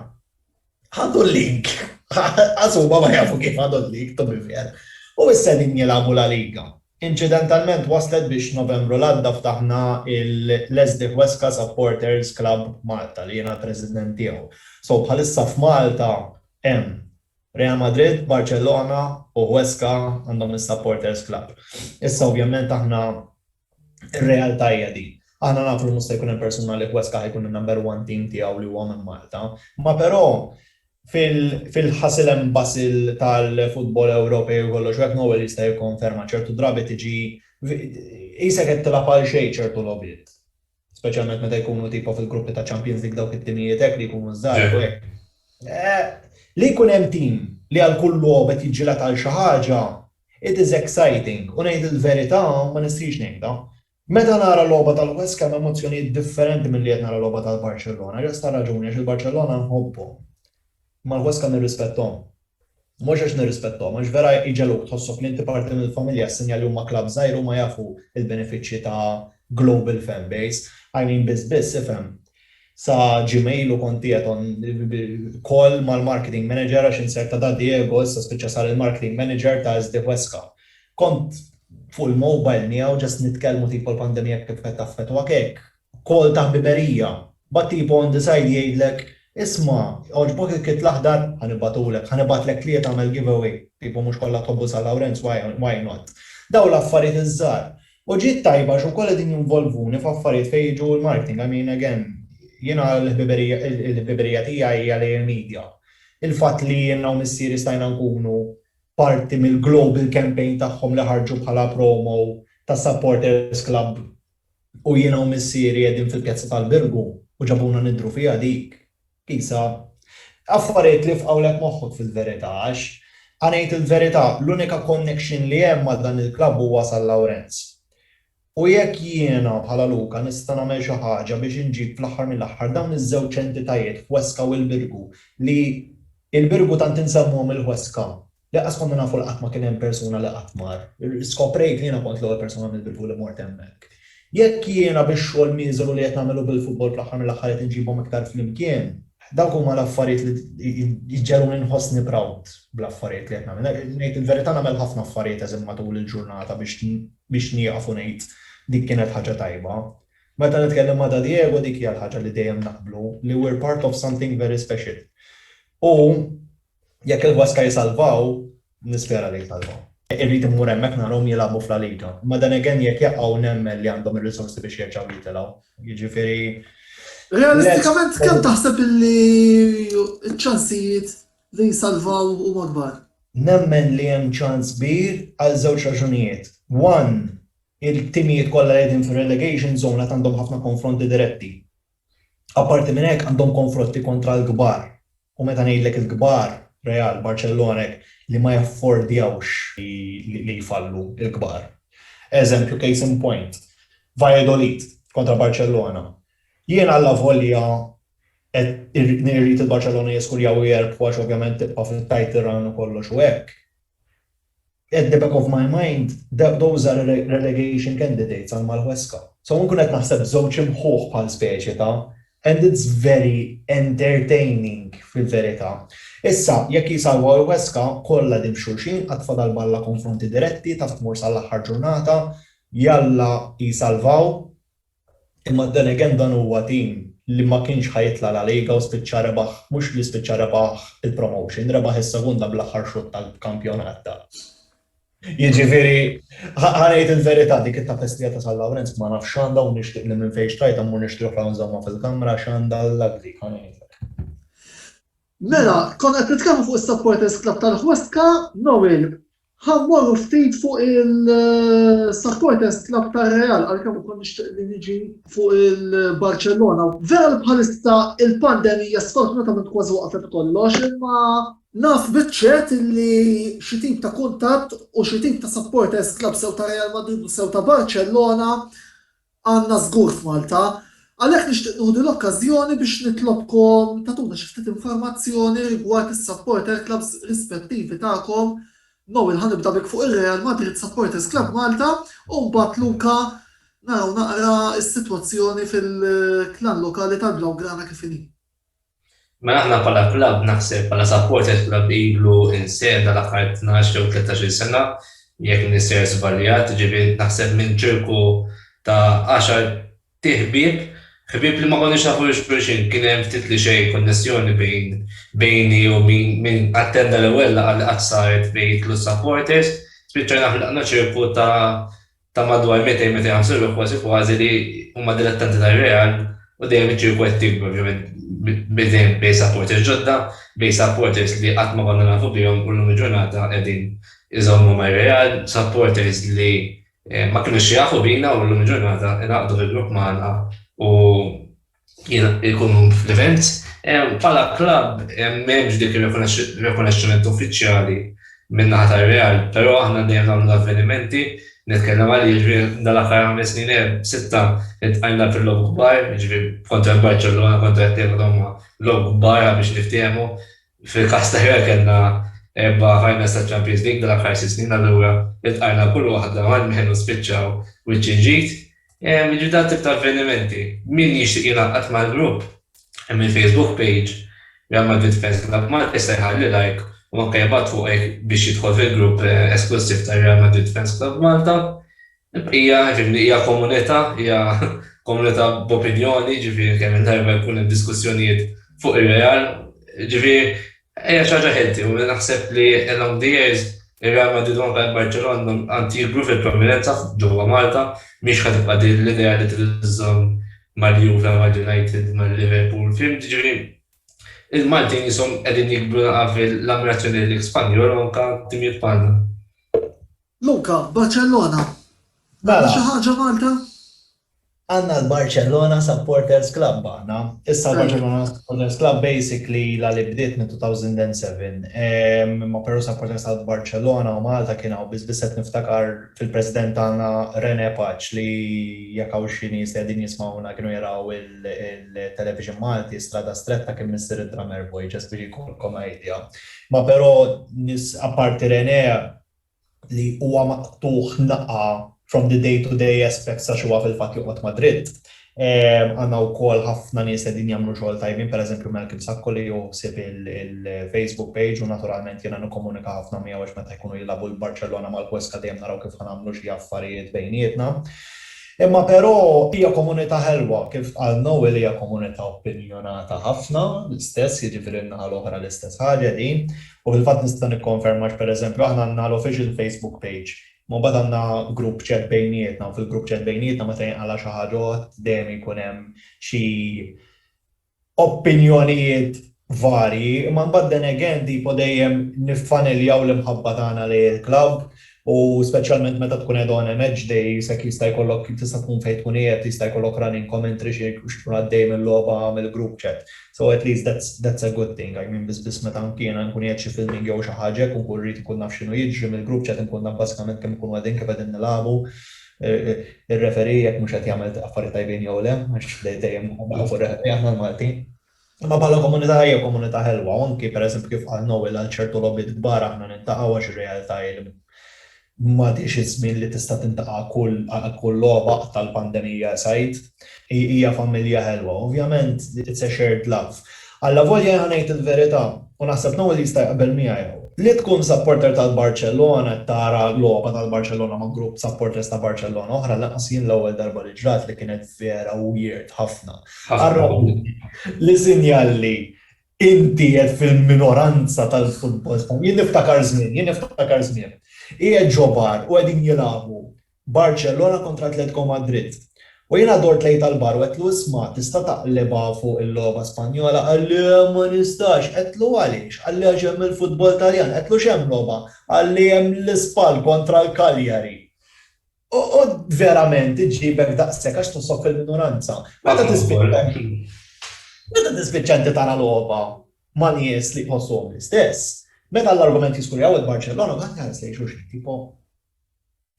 Ħadu l-lig. Qas huma ma jafu kif ħadu l-lig, to be fair. U issa qegħdin jilagħbu La Liga. Inċidentalment waslet biex Novembru l-għadda ftaħna l-Esdih Huesca Supporters Club Malta li jiena l-President tiegħu. So bħalissa f'Malta hemm Real Madrid, Barcellona u Huesca għandhom is-Supporters Club. Issa ovvjament aħna Ir-realtà hija din. Aħna nafu li mhux se jkun hemm persuna li Huesca ħa jkun in-number one team tiegħu li huwa minn Malta. Imma però fil-hustle and bustle tal-futbol Ewropej u kollox u hekk Noel jista' jikkonferma ċertu drabi tiġi qisek qed tilgħab għalxejn ċertu logħbiet. speċjalment meta jkunu tipo fil-gruppi ta' Champions League dawk it-timijiet hekk li jkunu ż-żgħażagħ u hekk. Li jkun hemm tim li għal kull logħob qed jiġġieled għal xi ħaġa, it is exciting u ngħid il-verità ma nistħix ngħidha. Meta nara logħba tal-Huesca hemm emozzjonijiet differenti milli qed nara logħba tal-Barcellona. Just għal raġuni għax il-Barcellona nħobbhom. Ma nħoss kemm nirrispetthom. Mhux għax nirrispetthom, għax vera jġegħluk tħossok li inti parti mill-familja s-sinjal li huma klabb żgħir huma jafu l-benefiċċji ta' global fan base. I mean biss biss, ifhem, sa Gmail u kont qiegħed on call mal-marketing manager għax insert ta' Da Diego issa spiċċa sar il-marketing manager ta' SD Huesca. Kont fuq il-mobile miegħu just nitkellmu tipo l-pandemija kif qed taffettwak hekk. Kol ta' ħbiberija. But tipo on the side jgħidlek, isma', jogħġbok il-kit l-aħdar? Ħa nibgħatulek. Ħa nibgħatlek tliet agħmel giveaway. Tipo mhux kollha tħobbu San Lawrenz why not? Dawn l-affarijiet iż-żgħar. U ġiet tajba għax ukoll qegħdin jinvolvuni f'affarijiet fejn jiġu l-marketing. I mean again, jiena l-ħbiberija tiegħi hija lejn il-media. Il-fatt li jiena u missieri stajna nkunu parti mill-global campaign tagħhom li ħarġu bħala promo tas-supporters club U jiena u missieri qegħdin fil-pjazza tal-Birgu u ġabuna nidhru fiha dik, qisha. Affarijiet li fqgħulek moħħok fil-verità għax, ħa ngħid il-verità, l-unika connection li hemm ma' dan il-klabb huwa San Lawrenz. U jekk jiena, bħala Luka, nista' nagħmel xi ħaġa biex inġib fl-aħħar mill-aħħar dawn iż-żewġ entitajiet Huesca u l-Birgu li, il-Birgu tant insemmuhom il-Huesca, Lanqas konna nafu li qatt ma kien hemm persuna li qatt mar. Skoprejt li jiena kont l-ewwel persuna mill-Belvu li mort hemmhekk. Jekk jiena bix-xogħol mieżeru li qed nagħmel u bil-futbol fl-aħħar mill-aħħar qed inġibhom iktar flimkien, dawk huma l-affarijiet li jġegħluni nħossni proud bl-affarijiet li qed nagħmel. Ngħid il-verità nagħmel ħafna affarijiet eżem matul il-ġurnata biex nieqaf u ngħid dik kienet ħaġa tajba. Meta nitkellem ma' Dad Diego dik hija l-ħaġa li dejjem naqblu, li we're part of something very special. U Jekk il-Huesca jisalvaw, nispera li jisalvaw. Irrid immur hemmhekk narahom jilagħbu f'La Liga. Imma then again jekk jaqgħu nemmen li għandhom ir-risorsi biex jerġgħu jitilgħu. Jiġifieri let's hope. Realistikament kemm taħseb illi ċ-ċansijiet li jisalvaw huma kbar? Nemmen li hemm ċans kbir għal żewġ raġunijiet. One, il-timijiet kollha li qegħdin fir-relegation zone għad għandhom ħafna konfronti diretti. Apparti minn hekk għandhom konfrotti kontra l-kbar, u meta ngħidlek il-kbar, Real, Barcellona hekk, li ma jaffordjawx li jfallu l-kbar. Eżempju, case in point, Valladolid kontra Barcellona. Jien allavolja qed irrid il-Barcellona jiskurjaw u jerbħu għax ovvjament tibqa' fit-title run u kollox u hekk, at the back of my mind those are relegation candidates għal Malhuesca. So inkun qed naħseb b'żewġ imħuħ bħal speċi ta' and it's very entertaining fil-verità. Issa, jekk jsalvaw il-Huesca, kollha qegħdin xulxin, qatt fadal balla konfronti diretti, taf tmur sal-aħħar ġurnata, jalla jsalvaw. Imma then again dan huwa team li ma kienx ħa jitla' La Liga u spiċċa rebaħ, mhux li spiċċa rebaħ il-promotion, rebaħ is-Segunda bl-aħħar xutt tal-kampjonat ta'. Jiġifieri, ħa ngħid il-verità, dik it-tapestria ta' San Lawrenz ma nafx x'għandha u nixtieq li minn fejn xtrajtha mmur nixtri oħra u nżommha fil-kamra għax għandha l-luck dik, ħa ngħidlek. Mela, konna qed nitkellmu fuq is-Supporters Club tal-Ħwestka, Noel, ħa mmorru ftit fuq il-Supporters Club tar-Real għalkemm ukoll nixtieq li niġi fuq il-Barcellona. Vera li bħalissa il-pandemija sfortunatament kważi waqfet kollox, imma Naf biċċet li xi tip ta' kuntatt u xi tip ta' supporters club sew ta' Real Madrid u sew ta' Barcellona Għandna żgur f'Malta. Għalhekk nixtieq nieħu din l-okkażjoni biex nitlobkom tagħtuna xi ftit informazzjoni rigward is-supporter clubs rispettivi tagħkom. Noel ħa nibda bik fuq ir-Real Madrid Supporters Club Malta u mbagħad Luca naraw naqra s-sitwazzjoni fil-klan lokali tal-Blaugrana kif inhi. Mela aħna bħala klabb naħseb bħala supporters klabb ilu insegħna l-aħħar tnax jew tlettax-il sena jekk mniser żbaljat, jiġifieri naħseb minn ċirku ta' għaxar ti ħbieb, ħbieb li ma konniex nafu lil xulxin, kien hemm ftit li xejn konnessjoni bejn bejni u min min attenda l-ewwel laqgħa li qatt saret bejn it-tliet supporters, spiċċajna ħlaqna ċirku ta' ta' madwar 200-250 ruħ kważi kważi li huma dilettanti tar-Real u dejjem iċ-ċirku qed jikber ovvjament bi dejjem bi supporters ġodda, bi supporters li qatt ma konna nafu bihom u llum il-ġurnata qegħdin iżommu mar-Real, supporters li ma kinux jafu bina u llum il-ġurnata ingħaqdu fi grupp magħna u jkunu fl-events. Bħala klabb m'hemmx dik ir-rikonoxximent uffiċjali min-naħa tar-Real, però aħna dejjem nagħmlu l-avvenimenti, nitkellem għalija, jiġifieri dan l-aħħar ħames snin, sitta, iltqajna fil-logħob kbar, jiġifieri kontra l-Barċellona, kontra t-Teva dawn huma logħob kbar ħa biex niftiehmu. Fil-każ ta' Real kellna erba' finals taċ-Champions League dal-aħħar sitt snin, allura iltqajna kull waħda ma' Nħel u spiċċaw wiċċ inġid. Jiġifieri dan tip ta' avvenimenti. Min jixtieq jingħaqad mal-grupp hemm il-Facebook page Real Madrid Fans Club Malta jista' jħalli like u anke jibgħat fuqu biex jidħol fil-grupp esklussiv tar-Real Madrid Fans Club Malta. Il-bqija, jiġifieri li hija komunità, hija komunità b'opinjoni, jiġifieri kemm il-darba jkun hemm diskussjonijiet fuq ir-Real, jiġifieri hija xi ħaġa healthy u naħseb li along the years ir-Real Madrid u anke l-Barċelona għad jikbru fil-prominenza ġewwa Malta, mhix ħa tibqa' din l-idea li trid iżżomm mal-Juve, mal-United, mal-Liverpool, fhimt, jiġifieri il-Maltin qishom qegħdin jikbru naqra fil-ammirazzjoni lejk Spanjol u anke timijiet bħalna. Luca, Barcellona, għandna xi ħaġa Malta? Għandna l-Barcellona Supporters Club aħna. Issa l-Barcellona Supporters Club basically ilha li bdiet minn 2007. Imma però supporters ta' Barcellona u Malta kien hawn biss biss qed niftakar fil-President tagħna Rene Paċ li jekk hawn xi nies li qegħdin jismgħuna kienu jaraw il-television Malti Strada Stretta kien Missier id-Drummer Boy ġast biex jkollkom idea. Imma però nies apparti Rene li huwa maqtugħ naqa' from the day to day aspects għax huwa fil-fatt joqgħod Madrid. Għandna wkoll ħafna nies li qegħdin jagħmlu xogħol tajbin, pereżempju Malcolm Sacco li hu ħsieb il-Facebook page u naturalment jiena nikkomunika ħafna miegħu għax meta jkunu jilagħbu l-Barċellona mal-Huesca dejjem naraw kif ħa nagħmlu xi affarijiet bejnietna. Imma però hija komunità ħelwa, kif qal Noel hija komunità opinjonata ħafna, l-istess, jiġifieri n-naħa l-oħra l-istess ħaġa din. U fil-fatt nista' nikkonferma għax pereżempju aħna għandna l-official Facebook page, imma mbagħad għandna group chat bejnietna u fil-group chat bejnietna meta jinqala' xi ħaġa odd dejjem jkun hemm xi opinjonijiet varji, imma mbagħad then again tipo dejjem niffaniljaw l-imħabba tagħna lejn il-klabb U speċjalment meta tkun qiegħed on a match day, s'hekk jista' jkollok, tista' tkun fejn tkun qiegħed, jista' jkollok running commentary xi jkun għaddej mill-logħba mill-group chat. So at least that's that's a good thing, I mean biss biss meta anki jiena nkun qiegħed xi filming jew xi ħaġa hekk u nkun rrid inkun naf x'inhu jiġri mill-group chat inkun naf bażikament kemm ikunu qegħdin, kif qegħdin nilagħbu, ir-referee jekk mhux qed jagħmel affarijiet tajbin jew le, għax dejjem fuq ir-referee aħna l-Maltin. Imma bħala komunità hija komunità ħelwa u anki pereżempju kif qal Noel għal ċertu logħbiet kbar aħna niltaqgħu għax ir-realtà hi li m'għadhiex iż-żmien li tista' tintaqa' kull għal kull logħba qatt għall-pandemija esgħid. Hija familja ħelwa. Ovvjament it's a shared love. Allavolja jien ħa ngħid il-verità, u naħseb Noel jista' jaqbel miegħi hawn, li tkun supporter tal-Barċellona qed tara logħba tal-Barċellona ma' grupp supporters ta' Barċellona oħra lanqas jien l-ewwel darba li ġrat li kienet vera weird ħafna. Ħarrabni li sinjal li inti qiegħed fil-minoranza tal-futbol Spanjol. Jien niftakar żmien, jien niftakar żmien. Qiegħed ġo bar u qegħdin jilagħbu Barcellona kontra Atletico Madrid. U jiena dort lejn tal-bar u għedtlu isma' tista' taqlibha fuq il-logħba Spanjola? Qal li le ma nistax. Għedtlu għaliex? Qal li għax hemm il-futbol Taljan. Għedtlu x'hemm logħba? Qal li hemm l-Spal kontra l-Cagliari. Oqgħod verament iġġibek daqshekk għax tinsob fil-minoranza. Meta tispiċċa Meta tispiċċa inti tara logħba ma' nies li jħossuhom l-istess, meta l-argument jiskun jgħawwed Barċellona, ma tħares lejn xulxin tipo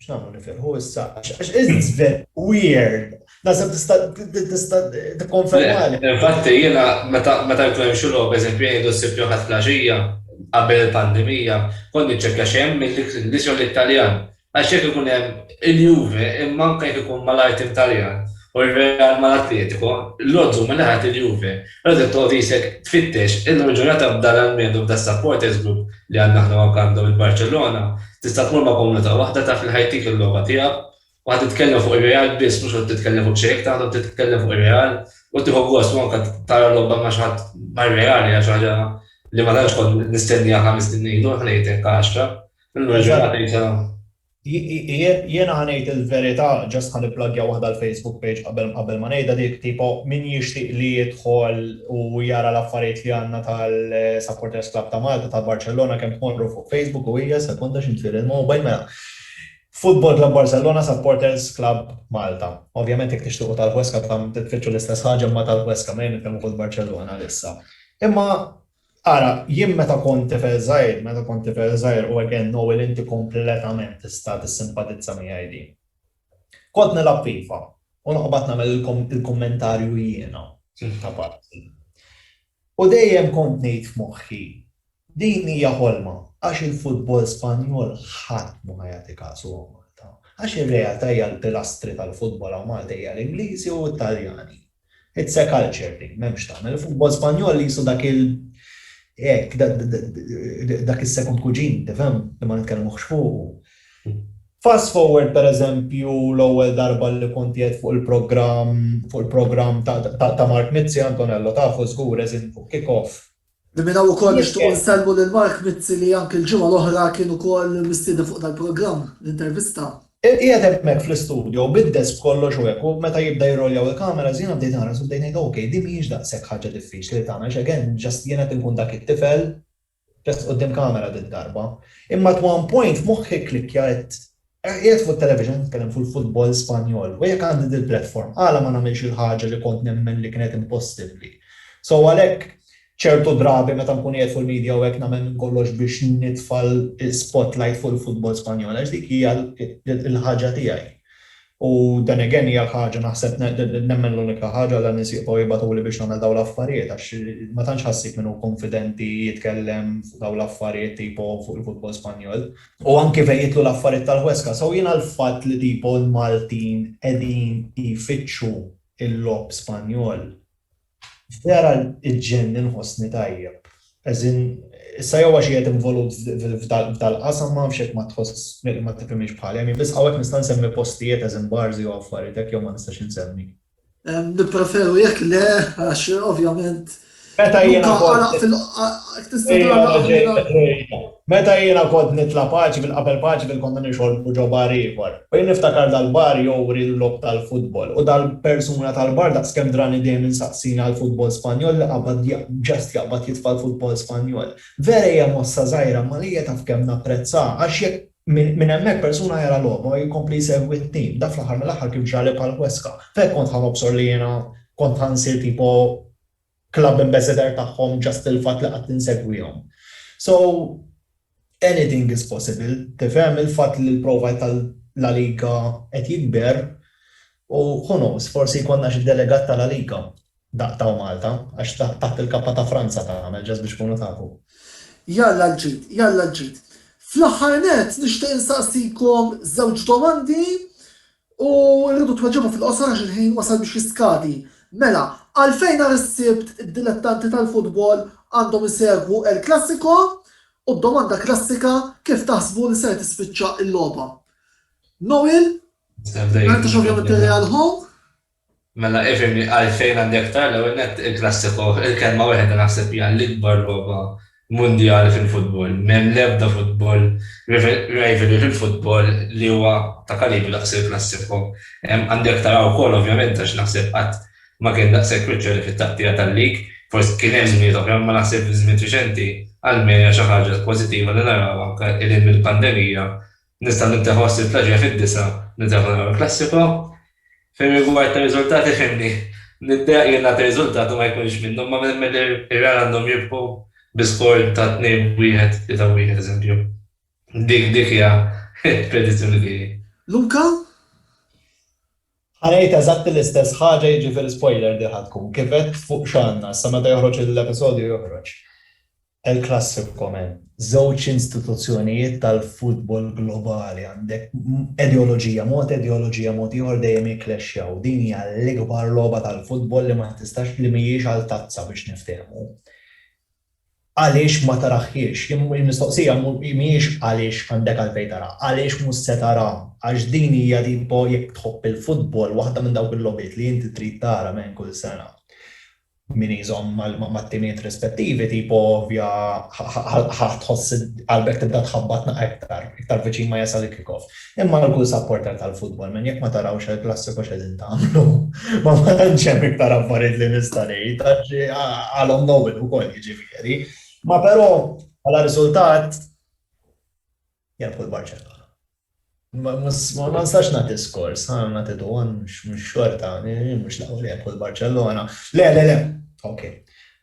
x'nagħmlu nifirħu issa għax it's very weird. Naħseb tista' tista' tikkonfermali. Infatti jiena meta meta jkun hemm xi logħba eżempju jgħidu s-Sibt jew Ħadd flaxija qabel il-pandemija, kont niċċekkja x'hemm mill-Ingliż jew l-Italjan. Għax jekk ikun hemm il-Juve, imma anke jekk ikun malajr tim Taljan, u r-Real mal-Atletico, l-odds huma li ħadd il-Juve. Allura trid toqgħod isek tfittex, illum il-ġurnata b'dan l-almend u b'dan is-supporters group li għandna aħna hawn għandhom il-Barċellona, tista' tmur ma' komunità waħda taf li ħa jtik il-logħba tiegħek u ħa titkellem fuq ir-Real biss, mhux ħa titkellem fuq xejn, jekk taħdem titkellem fuq ir-Real u tieħu gost u anke tara logħba ma' xi ħadd mar-Real hija xi ħaġa li ma tantx kont nistennieha ħames snin ilu, ħa ngħidlek għaxra. Illum il-ġurnata jisa. Jiena ħa ngħid il-verità, just ħa nipplagja waħda l-Facebook page qabel ma ngħidha dik, tipo min jixtieq li jidħol u jara l-affarijiet li għandna tal-Supporters Club ta' Malta ta' Barcellona kemm tmorru fuq Facebook u hija, sekonda xi nfiel il-mobile, mela Football Club Barcellona Supporters Club Malta. Ovvjament jekk tixtiequ tal-Huesca tfittxu l-istess ħaġa imma tal-Huesca, mejn nitkellmu fuq il-Barcellona għalissa. Imma Ara, jien meta kont tifel żgħir, meta kont tifel żgħir u again Noel inti kompletament tista' tissimpatizza miegħi din. Kont nilgħab FIFA u noqbad nagħmel il-kummentarju jiena ta' parti. U dejjem kont ngħid f'moħħi, din hija ħolma għax il-futbol Spanjol ħadd mhu ħa jagħti kasu hawn Malta. Għax ir-realtà hija l-pilastri tal-futbol hawn Malta hija l-Ingliżi u t-Taljani. It's a culture thing, m'hemmx tagħmel. Il-futbol Spanjol qisu dak il hekk, dak is-second cuisine, tifhem, li ma nitkellmux fuqu. Fast forward pereżempju l-ewwel darba li kont qiegħed fuq il-programm fuq il-programm ta' Mark Mizzi, Antonello tafu żgur as in fuq Kickoff, Li minn hawn ukoll nixtiequ nsellmu lil Mark Mizzi li anki l-ġimgħa l-oħra kien ukoll mistieden fuq dal-programm, l-intervista. Qiegħed hemmhekk fl-istudio bid-desk b'kollox u hekk u meta jibda jirroljaw il-cameras jiena bdejt naħras u bdejt ngħid ok, din mhijiex daqshekk ħaġa diffiċli li tagħmel għax again just jiena qed inkun dak it-tifel just quddiem camera did-darba. Imma at one point moħħi kklikkja għedt Qiegħed fuq it-television nitkellem fuq il-futbol Spanjol u jekk għandi dil-platform għala ma nagħmilx il-ħaġa li kont nemmen li kienet impossibbli. So għalhekk ċertu drabi meta nkun qiegħed fuq il-media u hekk nagħmel minn kollox biex nitfa' l-spotlight fuq il-futbol Spanjol għax dik hija l-ħaġa tiegħi. U then again hija l-ħaġa naħseb nemmen l-unika ħaġa għala nies jibqgħu jibgħatuli biex nagħmel dawn l-affarijiet għax ma tantx ħassib min hu kunfidenti jitkellem fuq dawn l-affarijiet tipo fuq il-futbol Spanjol. U anki fejn jidħlu l-affarijiet tal-ħweska. So jiena l-fatt li tipo l-Maltin qegħdin jfittxu l-logħob Spanjol, vera iġġenni nħossni tajjeb. As in, issa jew għax qiegħed involut f'dal-qasam ma nafx jekk ma tħoss, ma tifhimhiex bħali, I mean biss hawnhekk nista' nsemmi postijiet as in bars jew affarijiet hekk jew ma nistax insemmi. Nippreferu jekk le, għax ovvjament. Meta jiena Meta jiena kont nitla' paċi fil-qabel paċi fil-konna nixorbu ġo bar ieħor. U jien niftakar dal-bar jowri l-logħob tal-futbol u dal-persuna tal-bar daqskemm drani dejjem insaqsini għall-futbol Spanjol li qabad just jaqbad jitfa' l-futbol Spanjol. Vera hija mossa żgħira imma lejja taf kemm napprezzaha għax jekk Minn hemmhekk persuna jara lhom u jkompli jsegwi t-tim. Dak fl-aħħar mill-aħħar kif ġrali bħal Huesca. F'hekk kont ħa nobsor li jiena kont ħa nsir tipo club ambassador tagħhom just il-fatt li qatt insegwihom. So, anything is possible, tifhem, il-fatt li l-profile ta' La Liga qed jikber u who knows, forsi jkollna xi delegat ta' La Liga. Daqq taw Malta, għax taħt il-kappa ta' Franza tagħmel, just biex tkunu tafu. Jalla l-ġid, jalla l-ġid. Fl-aħħar nett nixtieq insaqsikom żewġ domandi u rridu tweġibu fil-qosor għax il-ħin wasal biex jiskadi. Mela, għalfejn nhar is-Sibt id-dilettanti tal-futbol għandhom isegwu El Classico? U d-domanda klassika, kif taħsbu li ser tispiċċa l-logħba? Noel, ma ngħidx ovvjament ir-Real Ho. Mela ifhimni għalfejn għandi aktar, l-ewwel nett il-klassiko, il-kelma weħda naħseb hija l-ikbar logħba mundjali fil-futbol. M'hemm l-ebda futbol, rivalry fil-futbol li huwa ta' kalibru daqs il-klassiko. Għandi aktar hawn ukoll ovvjament għax naħseb qatt ma kien daqshekk viċċjoli fit-taqtiegħa tal-lig. Forsi kien hemm żminijiet oħra imma naħseb fi żmien riċenti għal min hija xi ħaġa pożittiva li naraw anke 'l hinn mill-pandemija Nista' nibda ħoss il-plaġja fid-disgħa nibda nara l-klassiko. Fir-rigward tar-riżultati f'hemmni niddeq li ngħati riżultat u ma jkunx minnhom ma nemmen li r-Real għandhom jirbħu bi skor ta' 2-1, 3-1 eżempju. Dik dik hija l-predizzjoni tiegħi. Luca? Ħa ngħid eżatti l-istess ħaġa jiġifieri spoiler din ħa tkun. Kif għedt fuq x'għandna issa meta joħroġ l-episodju joħroġ. El Clasico men żewġ instituzzjonijiet tal-futbol globali għandek ideoloġija mod ideoloġija mod ieħor dejjem jiklexxjaw. Din hija l-ikbar logħba tal-futbol li ma tistax li mhijiex għal tazza biex niftehmu. Għaliex ma taraħiex? Il-mistoqsija mhijiex għaliex għandek għalfejn tara, għaliex mhux se tara? Għax din hija tipo jekk tħobb il-futbol waħda minn dawk il-logħbiet li inti trid tara men kull sena. min iżomm mat-timiet rispettivi tipo ovvja ħa tħoss qalbek tibda tħabbatna iktar, iktar viċin ma jasal il-kick-off. Imma għal kull supporter tal-futbol, man jekk ma tarawx il-Klassiku x'qegħdin tagħmlu? Ma tantx hemm iktar affarijiet li nista' ngħid għax għalhom nowwin ukoll jiġifieri. Ma però bħala riżultat, Jilħqu l-Barċellona. Ma nistax nagħti skors, ħa nagħti duwan mhux xorta, mhux l-ewwel jilħqu l-Barċellona. Le, le, le. Ok.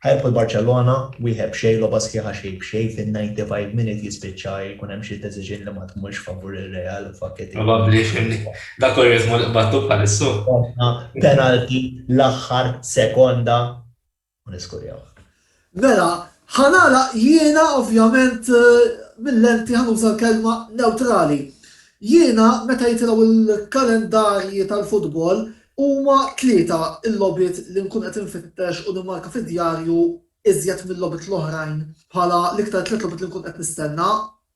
Ħajlħu l-Barċellona, wieħed b'xejn logħba sħiħa xejn b'xejn fin-95 minute jispiċċa jkun hemm xi deċiżjoni li ma tmurx favur ir-Real u fakketi. Probabbli fimni. Dak hu r-ritmu li qbadtu bħalissa. Penalty l-aħħar sekonda u niskurjawh. Mela, ħa nagħlaq jiena ovvjament mil-lenti ħa nuża l-kelma newtrali. Jiena meta jitilgħu l-kalendarji tal-futbol huma tlieta l-logħbiet li nkun qed infittex u nimmarka fid-djarju iżjed mil-logħbiet l-oħrajn bħala l-iktar tliet logħbiet li nkun qed nistenna.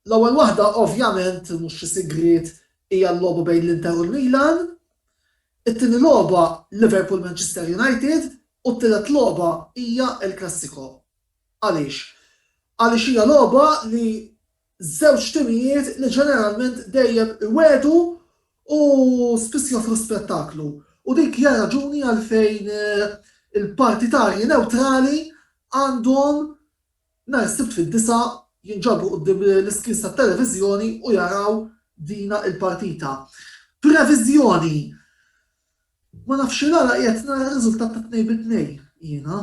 L-ewwel waħda ovvjament, mhux xi sigriet, hija l-logħba bejn l-Inter u l-Milan. It-tieni logħba Liverpool Manchester United u t-tielet logħba hija El Classico. Għaliex? Għaliex hija logħba li żewġ timijiet li ġeneralment dejjem iwegħdu u spiss joffru spettaklu u dik hija raġuni għalfejn il-partitarji newtrali għandhom Nhar is-Sibt fid-disgħa jinġabru quddiem l-iskrins tat-televiżjoni u jaraw dina il-partita. Previżjoni, Ma nafx x'għala qiegħed nara r-riżultat ta' tnejn bi tnejn jiena.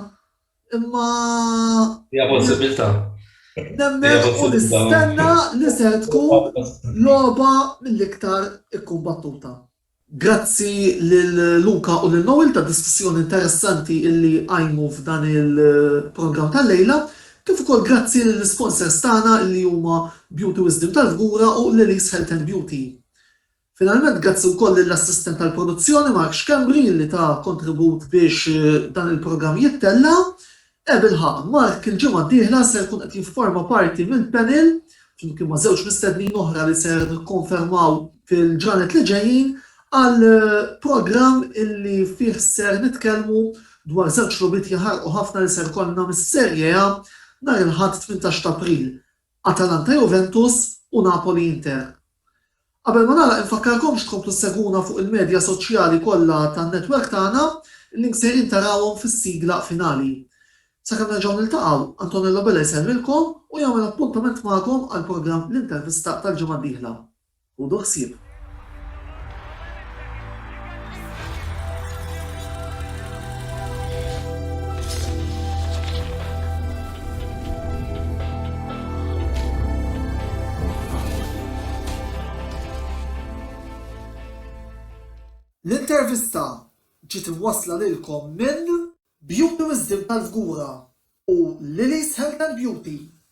Imma. Hija possibilità. Nemmen u nistenna li ser tkun logħba mill-iktar ikkumbattuta. Grazzi lil Luca u lil Noel tad-diskussjoni interessanti illi qajmu f'dan il-programm tal-lejla, kif ukoll grazzi lill-isponsers tagħna illi huma Beauty Wisdom tal-Fgura u Lily's Health and Beauty. Finalment grazzi wkoll lill-assistent tal-produzzjoni Mark Schembri illi ta kontribut biex dan il-programm jittella. E bilħaqq, Mark il-ġimgħa d-dieħla ser ikun qed jifforma parti mill-panel flimkien ma' żewġ mistednin oħra li ser nikkonfermaw fil-ġranet li ġejjin għal programm illi fih ser nitkellmu dwar żewġ logħbiet jaħarqu ħafna li ser ikollna mis-Serie A nhar il-Ħadd tmintax t'April Atalanta-Juventus u Napoli-Inter. Qabel ma nagħlaq infakkarkomx tkomplu ssegwuna fuq il-medja soċjali kollha tan-netwerk tagħna, il-links sejrin tarawhom fis-sigla finali. Sakemm nerġgħu niltaqgħu, Antonello Bella jsellmilkom u jagħmel appuntament magħkom għall-programm L-Intervista tal-ġimgħa d-dieħla. Ħudu ħsieb! L-intervista ġiet imwassla lilkom minn. Beauty Wisdom tal-Fgura u Lili's Health and Beauty